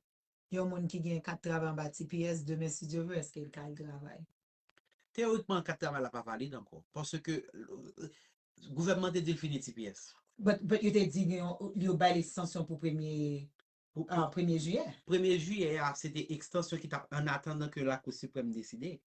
[SPEAKER 1] yon moun ki gen kat travay anba tps, demen si Dye vle, èske l ka al travay? Teyorikman
[SPEAKER 2] kat travay la pa valid ankò, paske gouvènman te di l fini tps. But yo te
[SPEAKER 1] di gen yon, yo bay l ekstansyon pou premye. Premye jiyè. Premye jiyè
[SPEAKER 2] a se te ekstansyon ki tap an atandan ke lakou siprèm deside.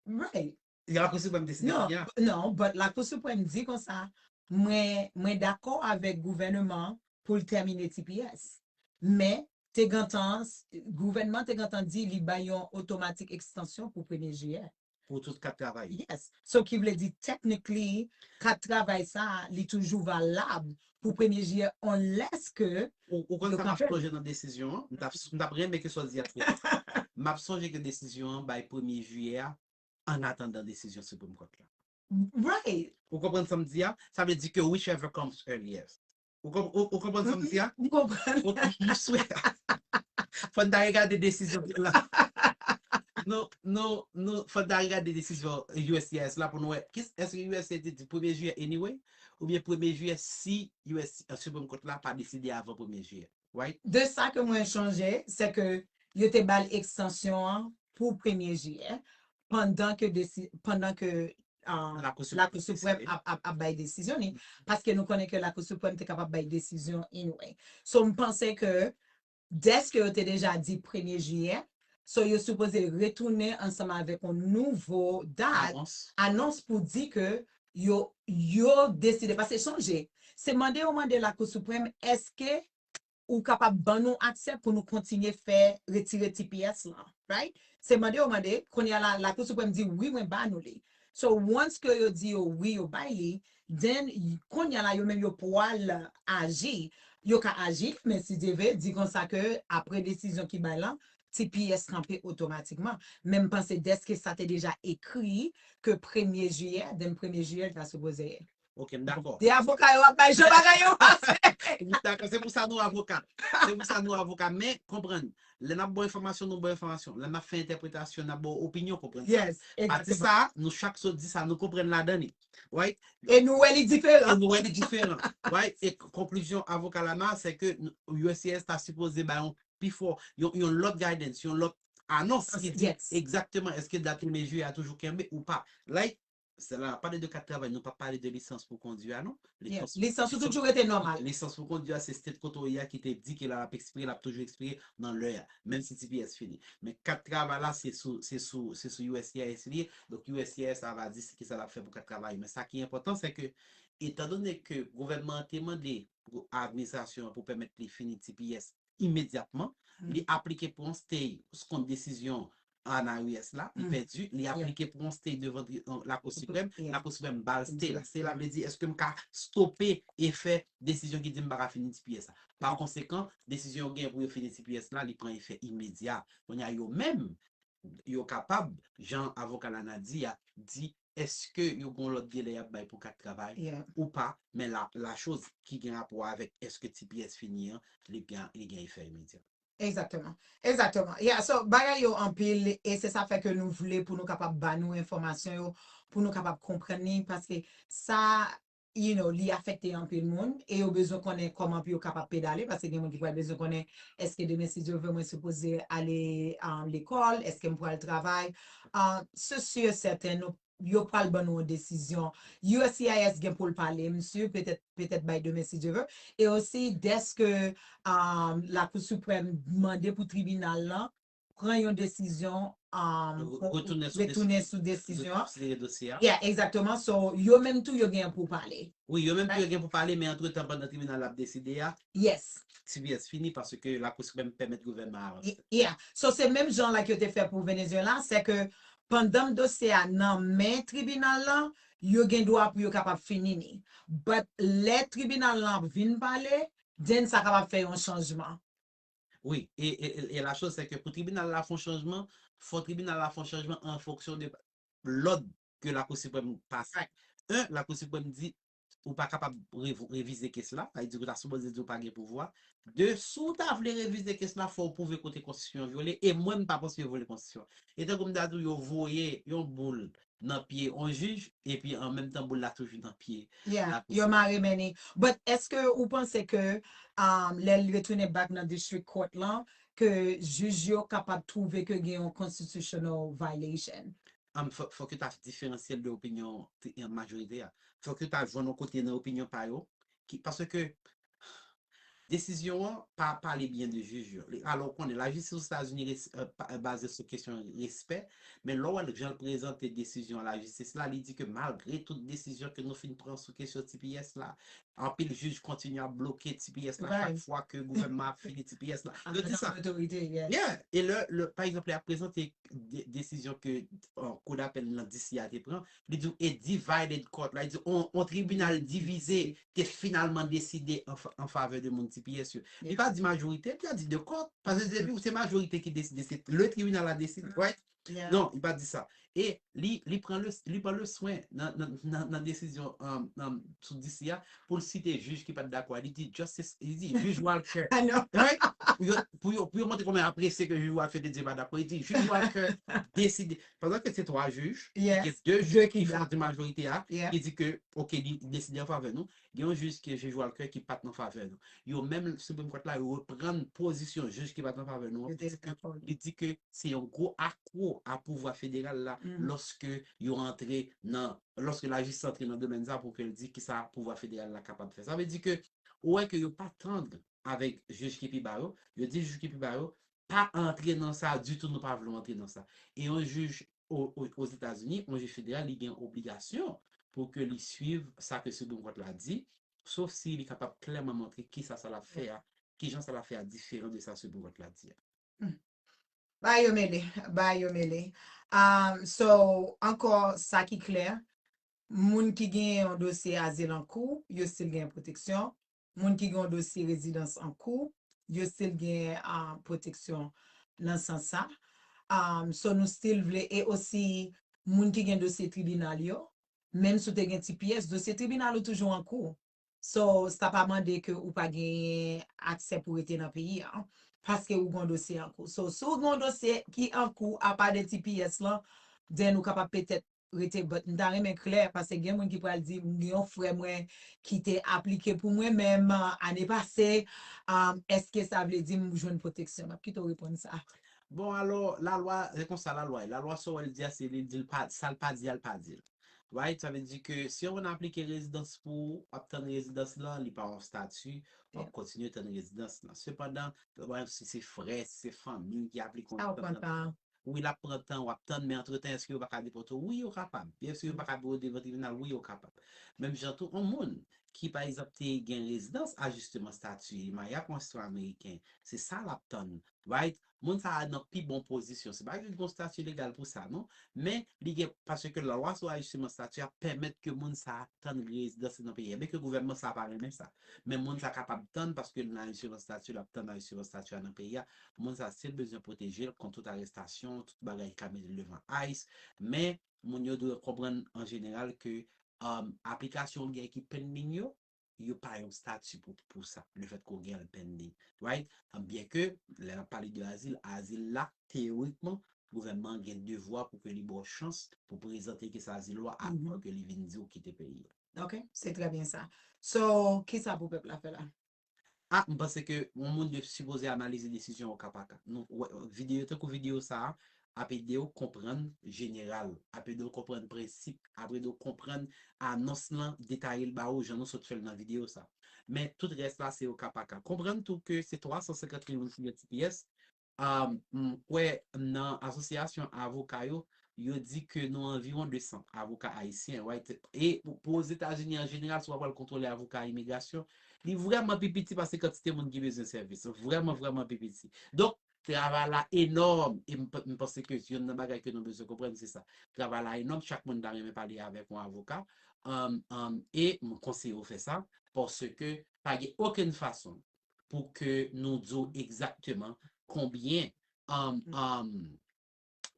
[SPEAKER 1] Right. Lakou siprèm
[SPEAKER 2] deside Non, kounya. non, but
[SPEAKER 1] lakou siprèm di konsa, mwen, mwen dakò avèk gouvèneman an pou l tèmine tps. Men, te gentan, gouvènman te gentan di li bay yon otomatik ekstansyon pou premye jiyè. pou
[SPEAKER 2] tout kat travay. Yes, so ki vle di
[SPEAKER 1] technically kat travay sa li toujou valab pou premye jiyè unless ke Ou ou konn sa map
[SPEAKER 2] sonje nan
[SPEAKER 1] desizyon
[SPEAKER 2] an,
[SPEAKER 1] m
[SPEAKER 2] tap m tap renmen ke sa w di a twouve. Map sonje ke desizyon an bay premye jiyè a an atandan desizyon Supreme Court la. Right!
[SPEAKER 1] Ou konprann sa m di
[SPEAKER 2] a? Sa vle di ke whichever comes earliest. Ou konp ou konprann sa m di a? M konprann.
[SPEAKER 1] Ok, m swè.
[SPEAKER 2] Fò n ta regade desizyon ki la. Nou, nou, nou, fò n ta regade desizyon uscis la pou nou wè ki èske usa te di premye jiyè anyway oubyen premye jiyè si us Supreme Court la pa deside avan premye jiyè. De sa ke mwen
[SPEAKER 1] chonje, se ke yo te ba l ekstansyon an pou premye jiyè, pandan ke pandan ke
[SPEAKER 2] Lakou Siprèm
[SPEAKER 1] ap
[SPEAKER 2] bay
[SPEAKER 1] desizyon
[SPEAKER 2] li,
[SPEAKER 1] paske nou konnen ke Lakou Siprèm te kapab bay desizyon anyway. So m panse ke dèske yo te deja di premye jiyè, So yo sipoze retounen ansanm avèk yon nouvo dat, anons pou di ke yo yo deside paske sonje se mande yo mande lakou siprèm eske ou kapab ban nou aksè pou nou kontinye fè retire tps lan right se mande yo mande kounya la lakou siprèm di wi mwen ba nou li so once ke yo di yo wi yo bay li Then kounya la yo menm yo pwal aji yo ka aji men si Dye ve di konsa ke apre desizyon ki bay lan tps kanpe otomatikman men m panse deske sa te deja ekri ke premye jiyè then premye jiyè li ta sipoze Ok m dakò. De
[SPEAKER 2] avoka yo ap bay
[SPEAKER 1] jan bagay yo pase. M dakò se pou sa
[SPEAKER 2] nou avoka se pou sa nou avoka men konprann lè nap ba w enfòmasyon nou ba w enfòmasyon lè nap fè entèpretasyon nap ba w opinyon konprann sa Yes pati egzateman.
[SPEAKER 1] sa nou
[SPEAKER 2] chak sot di sa nou konprann ladan li. Right? E nou wè li
[SPEAKER 1] diferan. E nou wè li diferan.
[SPEAKER 2] Right? E konklizyon avoka Lamar se ke USCIS ta sipoze bay yon pi fò, yon lòt guidance, yon lòt anons ki di egzakteman eske dat premye jiyè a toujou kenbe ou pa. Like, se la n ap pale de kat travay, nou pa pale de lisans pou kondi a non. Yes, lisans ou toujou
[SPEAKER 1] rete nòmal. Lisans pou kondi a se
[SPEAKER 2] state kote ou ye a ki te di ke lè l ap ekspire, l ap toujou ekspire nan lè a, menm si tps fini. Men kat travay la se sou USCIS li ye, Donk uscis la va di se kisa l ap fè pou ka travay men sa ki enpòtan se ke etandone ke gouvènman an te mande pou administrasyon an pou pèmèt li fini tps imedyatman li aplike pou yon stay kont desizyon anayes la li pèdi li aplike pou yon stay devan lakou siprèm lakou siprèm ba l stay la stay la vle di èske m ka stope efè desizyon ki di m pa ka fini tps la pakonsekan desizyon yo genyen pou yo fini tps la li pran efè imedya kounye a yo menm yo kapab, jan avoka Lana di a, di èske yo gen yon lòt delè y ap bay pou kat travay ou pa, men la lachoz ki gen rapò avèk èske tps fini an, li gen efè imedya. Egzakteman.
[SPEAKER 1] Egzakteman. Ya, so, bagay yo anpil e se sa fè ke nou vle pou nou kapab ba nou enfòmasyon yo, pou nou kapab konprann li, paske sa you know, li afekte anpil moun e yo bezwen konnen koman pou yo kapab pedale paske gen moun ki pral bezwen konnen eske demen si Dye vle mwen sipoze ale lekòl, eske m pral travay se si e sèten nou yo pral ban nou yon desizyon uscis gen pou l pale m si petèt petèt bay demen si Dye vle e osi dèske Lakou Siprèm mande pou tribinal lan. pran yon desizyon retounen sou desizyon an konsidere dosye a yeah exactement so yo menm tou yo gen pou pale wi yo menm tou yo gen pou
[SPEAKER 2] pale men antretan pandan tribinal la ap deside a yes
[SPEAKER 1] tps fini
[SPEAKER 2] paske lakou siprèm pèmèt gouvènman an avanse yeah so se menm
[SPEAKER 1] jan like yo te fè pou Venezuela se ke pandanm dosye a nan men tribinal la yo gen dwa pou yo kapab fini ni but lè tribinal lan ap vin pale then sa kapab fè yon chanjman. Wi,
[SPEAKER 2] e e la chose se ke pou tribinal la fè yon chanjman, fò tribinal la fè yon chanjman an fonksyon de lòd ke lakou siprèm pase. En, lakou siprèm di ou pa kapab revize kes la, sa vle di ou ta sipoze di ou pa gen pouvwa. De, si ou ta vle revize kes la fò ou pwouve kote konstitisyon an vyole e mwen m pa panse yo vyole konstitisyon an. E tankou m ta di w yo voye yon boul nan pye on jij epi an menm tan boul la toujou nan pye Yeah lapolis. yo mare
[SPEAKER 1] men ni. But eske ou panse ke um lè l retounen back nan district court lan ke jij yo kapab twouve ke gen yon constitutional violation? Um fò fòk yo ta
[SPEAKER 2] diferansye l de opinyon majorite a. Fòk yo ta jwenn on kote nan opinyon pa yo ki paske Desizyon an pa pale byen de jij yo. Alò ou konnen, lajistis Ozetazini baze sou kesyon respè, men lè w wè jan l prezante desizyon an lajistis la, li di ke malgre tout desizyon ke nou fin pran sou kesyon tps la, anpil jij kontinye ap bloke tps la chak fwa ke gouvènman ap fini tps la. Yo di sa. Yeah! E
[SPEAKER 1] lè,
[SPEAKER 2] pa egzanp, lè y ap prezante desizyon ke Kou Dapèl nan DC a te pran, li di w a divided court la, li di w yon tribinal divize te finalman deside an favè de moun tps yo. Li pa di majorite, li
[SPEAKER 1] pa di
[SPEAKER 2] de court, paske depi ou se majorite ki deside se le tribinal la deside, right? Non, li pa di
[SPEAKER 1] sa.
[SPEAKER 2] E li pran le swen nan desizyon sou DC a pou l site jij ki pa t dakò a, li di Justice, li di Jij Walker, right? Pou yo montre kòman yo apresye ke jij Walker te di yo pa dakò, li di Jij Walker deside, Pandan ke se 3 jij, gen 2 jij ki fè pati
[SPEAKER 1] majorite a,
[SPEAKER 2] ki di ke
[SPEAKER 1] ok
[SPEAKER 2] li deside an favè nou, gen yon jij ki jij Walker ki pat nan favè nou. Yo menm Supreme Court la reprann pozisyon jij ki pat nan favè nou an, li di ke se yon gwo akwo a pouvwa federal la lòske yo antre nan, lòske lajistis antre nan domèn sa pou ke l di kisa pouvwa federal la kapab fè. Sa vle di ke ou wè ke yo pa tandr avèk jij ki pi ba yo, yo di jij ki pi ba yo, pa antre nan sa ditou, nou pa vle w antre nan sa. E yon jij Ozetazini, yon jij federal, li gen obligasyon pou ke li suiv sa ke Supreme Court la di, sof si li kapab klèman montre kisa sa l ap fè a, kijan sa l ap fè a diferan de sa Supreme Court la di a. Humm. Bagay yo mele.
[SPEAKER 1] Bagay yo mele. Umm, so, ankò, sa ki klè, moun ki genyen yon dosye azil an kou, yo stil genyen pwoteksyon, Moun ki gen yon dosye rezidans an kou, yo still gen pwoteksyon nan sans sa. So nou still vle e osi moun ki gen dosye tribinal yo, menm si w te gen tps, dosye tribinal ou toujou an kou. So sa pa mande ke ou pa genyen aksè pou rete nan peyi a, paske ou gen yon dosye an kou. So si w gen yon dosye ki an kou apa de tps lan, then ou kapab petèt rete but m ta renmen klè paske gen moun ki pral di m gen yon frè mwen ki te aplike pou mwen menm ane pase eske sa vle di m jwenn pwoteksyon map kite w reponn sa. Bon alò
[SPEAKER 2] lalwa se konsa lalwa ye lalwa sa w wè l di a se li di l pa sa l pa di a l pa di l right sa vle di ke si yon moun aplike rezidans pou ou wap tann rezidans lan li pa yon stati wap kontinye tann rezidans lan sepandan si se frè si se fanmi ki aplike yon rezidans Wi lap pran tan wap tann men antretan eske yo paka depote w wi yo kapab eske yo paka biro devan tribinal wi yo kapab menm jan tou on moun ki pa egzanp te gen rezidans ajisteman stati li marye ak on sitwayen ameriken se sa lap tann right moun sa a nan pi bon pozisyon se pa li gon stati legal pou sa non men li gen paske lalwa sou ajisteman stati a pèmèt ke moun sa a tann li rezidans li nan peyi a byen ke gouvènman sa a pa renmen sa men moun sa a kapab tann paske li nan ajisteman stati lap tann ajisteman stati a nan peyi a Moun sa si l bezwen pwoteje l kont tout arestasyon, tout bagay ki ka mete l devan ice, men moun yo dwe konprann an jeneral ke aplikasyon ou gen ki pending yo, yo pa yon stati pou sa, le fèt ke w gen l pending, right? Byen ke lè n ap pale de azil, azil la teyorikman gouvènman an gen devwa pou ke li ba w chans pou w prezante kes azil ou a avan ke li vin di w kite peyi a. Ok, se trè
[SPEAKER 1] byen sa. So, kisa pou pèp la fè la? Ah m panse
[SPEAKER 2] ke yon moun dwe sipoze analize desizyon o ka pa ka. Nou wè videyo tankou videyo sa a ap ede w konprann jeneral, ap ede w konprann prensip, ap ede w konprann anons lan, detaye l ba ou jan nou sot fè l nan videyo sa a. Men tout rès la se o ka pa ka. Konprann tou ke se 350 liv ou jwenn yon ti pyès, M kwè nan asosyasyon avoka yo, yo di ke nou anviwon 200 avoka ayisyen, right? E pou Ozetazini an jeneral, si w pa pral kontwole avoka imigrasyon, li vrèman pi piti pase kantite moun ki bezwen sèvis. Vrèman, vrèman pi piti. Donk, travay la enòm e m panse ke youn nan bagay ke nou bezwen konprann se sa. Travay la enòm, chak moun ta renmen pale avèk yon avoka e m konseye ou fè sa paske pa gen okenn fason pou ke nou di w egzakteman konbyen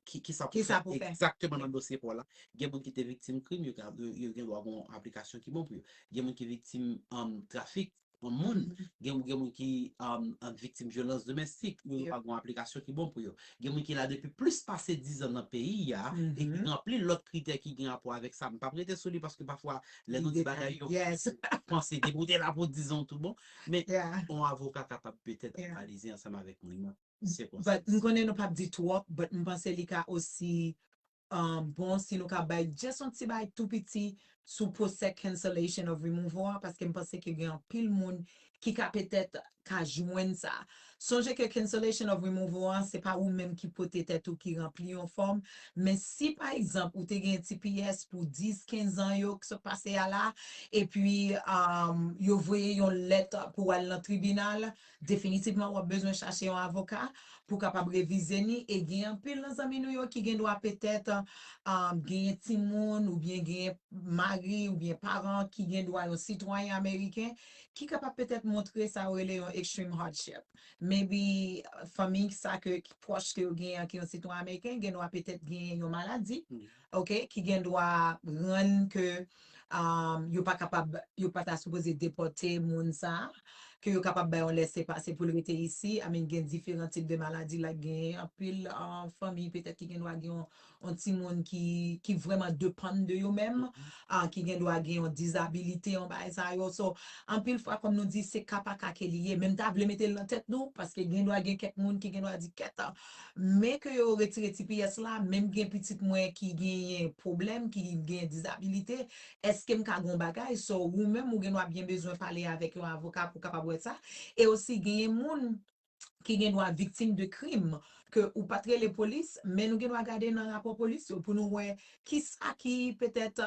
[SPEAKER 2] ki sa pou fè egzakteman nan dosye pa w la. Gen moun ki te viktim krim, yo gen dwa gen yon aplikasyon ki bon pou yo. Gen moun ki viktim trafik, gen moun ki viktim vyolans domestik, yo gen dwa gen yon aplikasyon ki bon pou yo. Gen moun ki la depi plis pase dizan nan peyi a, e ki ranpli lòt kritè ki gen rapò avèk sa. M pa p rete sou li paske pafwa lè nou di bagay yo panse depi w te la pou dizan w tout bon. Men, yon avoka kapab petèt analize ansanm avèk moun nan sikonstans. M konnen
[SPEAKER 1] nou pap di twòp, but m panse li ka osi bon si nou ka bay just yon ti bagay tou piti sou pwosè cancellation of removal a, paske m panse ke gen anpil moun ki ka petèt ka jwenn sa. Sonje ke cancellation of removal an se pa ou menm ki pote tèt ou ki ranpli yon fòm, men si pa egzanp ou te gen tps pou 10, 15 an yo k sot pase a la, epi yo voye yon lèt pou w al nan tribinal, definitivman w ap bezwen chache yon avoka pou kapab revize ni, e gen anpil nan zanmi nou yo ki gen dwa petèt genyen timoun oubyen genyen mari oubyen paran ki gen dwa yon sitwayen ameriken Ki kapab petèt montre sa yo rele yon extreme hardship. Maybe fanmi sa ke ki pwòch ke yo genyen an ki yon sitwayen ameriken gen dwa petèt genyen yon maladi ok ki gen dwa rann ke yo pa kapab yo pa ta sipoze depòte moun sa ke yo kapab bay yon lèse pase pou l rete isi I mean gen diferan tip de maladi like gen anpil fanmi petèt ki gen dwa gen yon yon timoun ki ki vrèman depann de yo menm, ah ki gen dwa gen yon dizabilite yon bagay sa yo, so anpil fwa kòm nou di se ka pa ka ke li ye men m ta vle mete l nan tèt nou paske gen dwa gen kèk moun ki gen dwa di kèt men ke yo retire ti pyès la menm gen pitit mwen ki genyen pwoblèm ki gen dizabilite èske m ka gen yon bagay so ou menm ou gen dwa byen bezwen pale avèk yon avoka pou kapab wè sa e osi genyen moun ki gen dwa viktim de krim ke ou pat rele polis men nou gen dwa gade nan rapò polis yo pou nou wè kisa ki petèt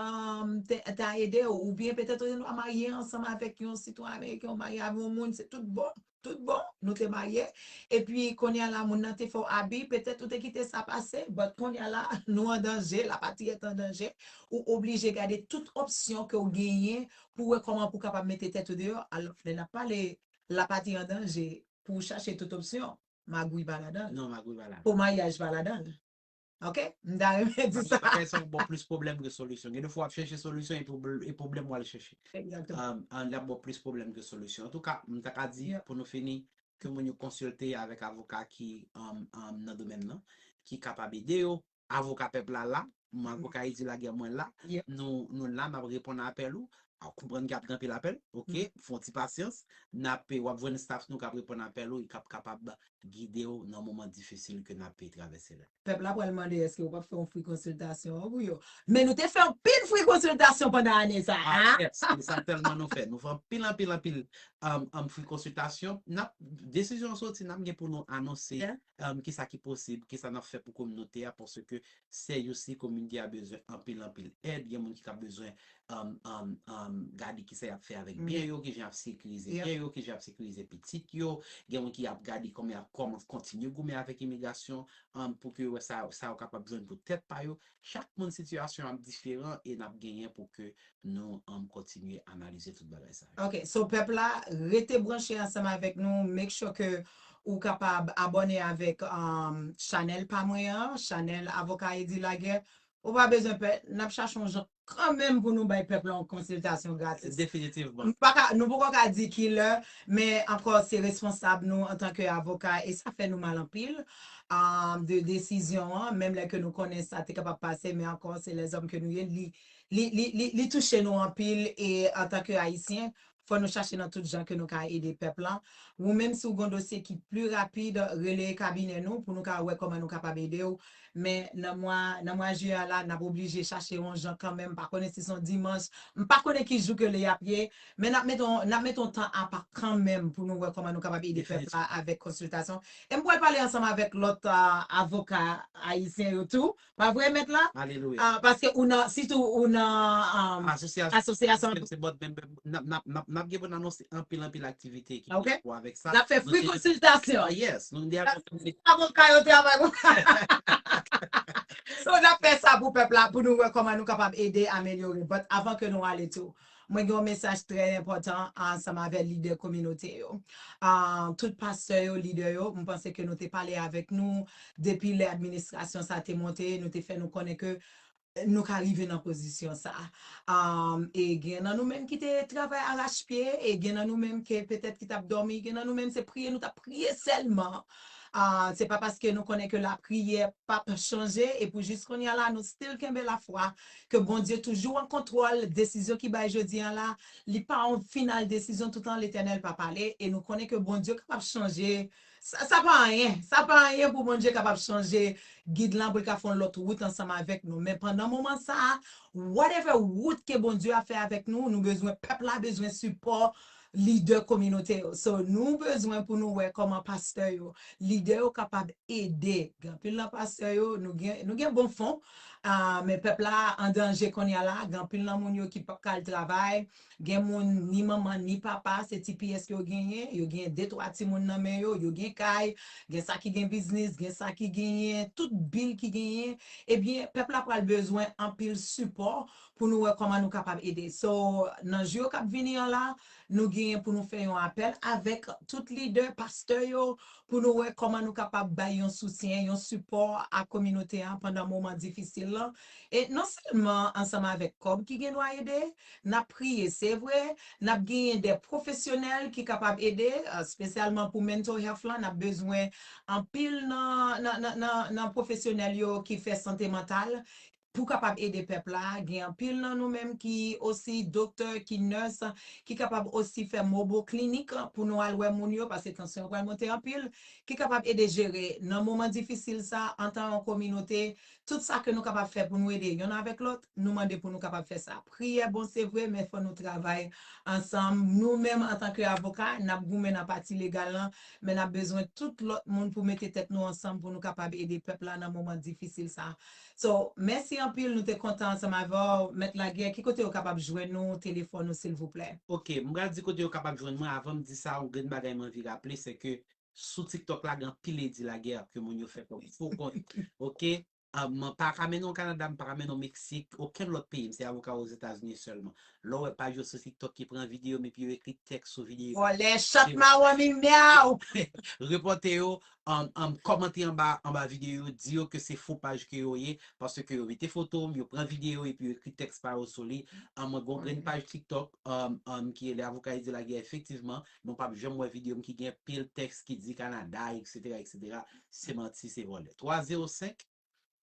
[SPEAKER 1] ta ede ou oubyen petèt ou gen dwa marye ansanm avèk yon sitwayen ameriken ou marye avèk yon moun se tout bon tout bon nou te marye epi kounye a la moun nan te fè w abi petèt ou te kite sa pase but kounye a la nou an danje la patri est en danger ou oblije gade tout opsyon ke ou genyen pou wè kòman pou w kapab mete tèt ou deyò alò lè n ap pale La pati an danje pou ou chache tout opsyon. Magouy pa ladan l. Non, magouy pa ladan l.
[SPEAKER 2] Pomayaj pa ladan l.
[SPEAKER 1] Ok? M ta renmen di sa. Bagay sa yo ba w plis pwoblèm
[SPEAKER 2] ke solisyon. Gen de fwa w ap chèche solisyon epi w e pwoblèm w al chèche. Egzakteman. Li
[SPEAKER 1] ap ba w plis
[SPEAKER 2] pwoblèm ke solisyon. Antouka, m ta ka di, pou nou fini, ke moun yo konsilte avèk avoka ki nan domèn nan, ki kapab ede yo Avoka pèp la la, mwen avoka Edi Laguerre mwen la, nou la nap reponn apèl ou, ou konprann ke ap gen anpil apèl, ok, fon ti pasyans, nap, wap jwenn staff nou kap reponn apèl ou e kap kapab gide ou nan moman difisil ke nap travèse la. Pèp la pral mande eske
[SPEAKER 1] ou pap fè yon free konsiltasyon an pou yo. Men nou te fè anpil free konsiltasyon pandan ane sa a. Ah yes, se sa
[SPEAKER 2] tèlman nou fè, nou fè anpil anpil anpil free konsiltasyon, nap, desizyon an soti nap gen pou nou anonse Kisa ki posib, kisa nap fè pou kominote a paske se yon si kominote a bezwen anpil anpil èd, gen moun ki ka bezwen gade kisa yap fè avèk byen yo, kijan yap sekirize byen yo, kijan yap sekirize pitit yo, gen moun ki ap gade kòman yap kontinye goumen avèk imigrasyon pou ke yo wè sa yo kapab jwenn pou tèt pa yo, Chak moun sitiyasyon ap diferan e nap genyen pou ke nou anm kontinye analize tout bagay sa yo. Ok so pèp la
[SPEAKER 1] rete branche ansanm avèk nou make sure ke ou kapab abòne avèk chanèl pa mwen an chanèl avoka Eddy Laguerre ou pa bezwen pè nap chache yon jan kanmenm pou nou bay pèp la yon konsiltasyon gratis Definitivman. M paka
[SPEAKER 2] nou poko ka
[SPEAKER 1] di kilè men ankò se responsab nou antanke avoka e sa fè nou mal anpil de desizyon an, menm lè ke nou konnen sa te kapab pase, men ankò se lèzòm ke nou ye, li touche nou anpil e antan ke Ayisyen, fò nou chache nan tout jan ke nou ka ede pèp lan. Wou menm si w gon dosye ki pli rapid, rele kabinè nou pou nou ka wè kòman nou kapab ede w, men nan mwa, nan mwa Jiyè a la, n ap oblije chache yon jan kanmenm, m pa konnen si s on dimanch, m pa konnen ki jou ke li ap ye, Men nap mete yon nap mete yon tan apa kanmenm pou nou wè kòman nou kapab ede pèp la avèk konsiltasyon. E m pwal pale ansanm avèk lòt avoka ayisyen yo tou, pa vre mèt la? Alelouya! Paske ou
[SPEAKER 2] nan sitou
[SPEAKER 1] ou nan asosyasyon an. Se bòt menm
[SPEAKER 2] nap nap gen pou n anonse anpil anpil aktivite ki gen rapò avèk sa. Nap fè free
[SPEAKER 1] konsiltasyon. Oh yes! Nou gen
[SPEAKER 2] Paske avoka yo
[SPEAKER 1] travay pou So nap fè sa pou pèp la pou nou wè kòman nou kapab ede amelyore. But avan ke nou ale tou. Mwen gen yon mesaj trè enpòtan ansanm avè lidè kominote yo. Tout pastè yo, lidè yo, m panse ke nou te pale avèk nou depi lè administrasyon sa te monte, nou te fè nou konnen ke nou ka rive nan pozisyon sa. E gen nan nou menm ki te travay arachpye, e gen nan nou menm ke petèt ki t ap dòmi, gen nan nou menm se priye nou t ap priye sèlman. Se pa paske nou konnen ke lapriyè p ap chanje e pou jis kounye a la nou still kenbe lafwa Ke Bondye toujou an kontrol desizyon ki bay jodi an la, li pa yon final desizyon toutan Letènèl pa pale e nou konnen ke Bondye kapab chanje sa sa pa anyen, sa pa anyen pou Bondye kapab chanje gid lan pou l ka fè yon lòt wout ansanm avèk nou men pandan moman sa a whatever wout ke Bondye ap fè avèk nou nou bezwen pèp la bezwen sipò lidè kominote yo so nou bezwen pou nou wè kòman pastè yo lidè yo kapab ede anpil nan pastè yo nou gen nou gen bon fon men pèp la an danje konnya la gen anpil nan moun yo ki pap ka al travay gen moun ni manman ni papa se ti pyès yo genyen yo gen de twa timoun nan men yo yo gen kay gen sa ki gen biznis gen sa ki genyen tout bil ki genyen ebyen pèp la pral bezwen anpil sipò pou nou wè kòman nou kapab ede. So, nan jou yo k ap vini an la, nou genyen pou nou fè yon apèl avèk tout lidè, pastè yo, pou nou wè kòman nou kapab bay yon soutyen, yon sipò a kominote a pandan moman difisil lan. E non sèlman ansanm avèk kòb ki gen dwa ede, n ap priye se vre, n ap genyen de pwofesyonèl ki kapab ede, spesyalman pou mental health lan, n ap bezwen anpil nan pwofesyonèl yo ki fè sante mantal, Pou kapab ede pèp la, gen anpil nan nou menm ki osi doktè, ki nurse, ki kapab osi fè mobile clinic pou nou al wè moun yo, pase tansyon yo pral monte anpil, ki kapab ede jere nan moman difisil sa antan yon kominote, tout sa ke nou kapab fè pou nou ede yonn avèk lòt, nou mande pou nou kapab fè sa. Priyè bon se vre, men fò nou travay ansanm, nou menm antan ke avoka, nap goumen nan pati legal lan, men nap bezwen tout lòt moun pou mete tèt nou ansanm pou nou kapab ede pèp la nan moman difisil sa. So mèsi anpil nou te kontan ansanm avèw mèt lagè ki kote yo kapab jwenn ou telefòn ou silvouplè. Ok m pral di kote yo
[SPEAKER 2] kapab jwenn mwen avan m di sa yon grenn bagay m anvi raple se ke sou tiktok la gen anpil Eddy Laguerre ke moun yo fè kòm fo kont ok m pa ka mennen w Canada m pa ka mennen w Mexique okenn lòt peyi m se avoka w Ozetazini sèlman lè w wè paj yo sou tiktok ki pran videyo m epi yo ekri tèks sou videyo vòlè chat mawon
[SPEAKER 1] mimyaw. Repòte
[SPEAKER 2] yo Kòmante anba anba videyo yo di yo ke se fo paj ke yo ye paske yo mete foto m, yo pran videyo epi yo ekri tèks pa yo sou li. Mwen gen yon grenn paj tiktok ki rele Avoka Eddy Laguerre efektivman men w pap janm wè videyo m ki gen pil tèks ki di Canada etc etc se manti se vòlè 3 0 5.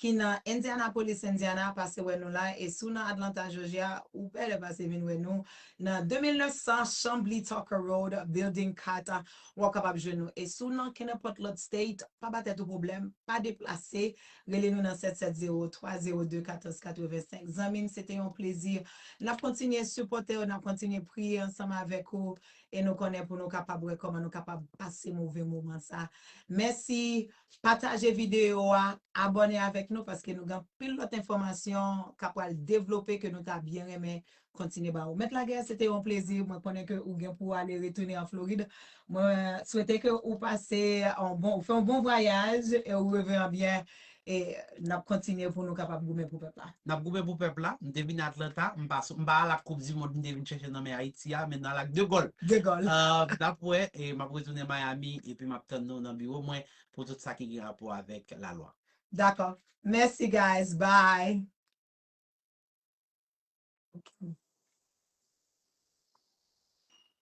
[SPEAKER 1] ki nan Indianapolis, Indiana, pase wè nou la e si w nan Atlanta, Georgia, ou bèlè pase vin wè nou nan 2900 Chamblee Tucker Road, Building 4, w ap kapab jwenn nou. E si w nan kenenpòt lòt state, pa ba tèt ou pwoblèm, pa deplase, rele nou nan 770 302 14 85. Zanmi m, se te yon plezi. N ap kontinye sipòte w, n ap kontinye priye ansanm avèk ou e nou konnen pou nou kapab wè kòman nou kapab pase move moman sa. Mèsi Pataje video a, abòne avèk nou paske nou gen anpil lòt enfòmasyon kap pral devlope ke nou ta byen renmen kontinye ba ou. Mèt Laguerre se te yon plezi, mwen konnen ke ou gen pou ale retounen an Florid. Mwen swete ke ou pase yon bon, ou fè yon bon vwayaj e ou reve an byen e nap kontinye pou nou kapab goumen pou pèp la. N ap goumen pou pèp la.
[SPEAKER 2] M te vin Atlanta, m pa sot, m pa al ak koup di mond m te vin chèche nan men Ayiti a, men n al ak de gòl. De gòl. N
[SPEAKER 1] ap wè, e
[SPEAKER 2] m ap retounen Miami epi m ap tann nou nan biwo mwen pou tout sa ki gen rapò avèk lalwa. Dakò.
[SPEAKER 1] Mèsi guys. Bye.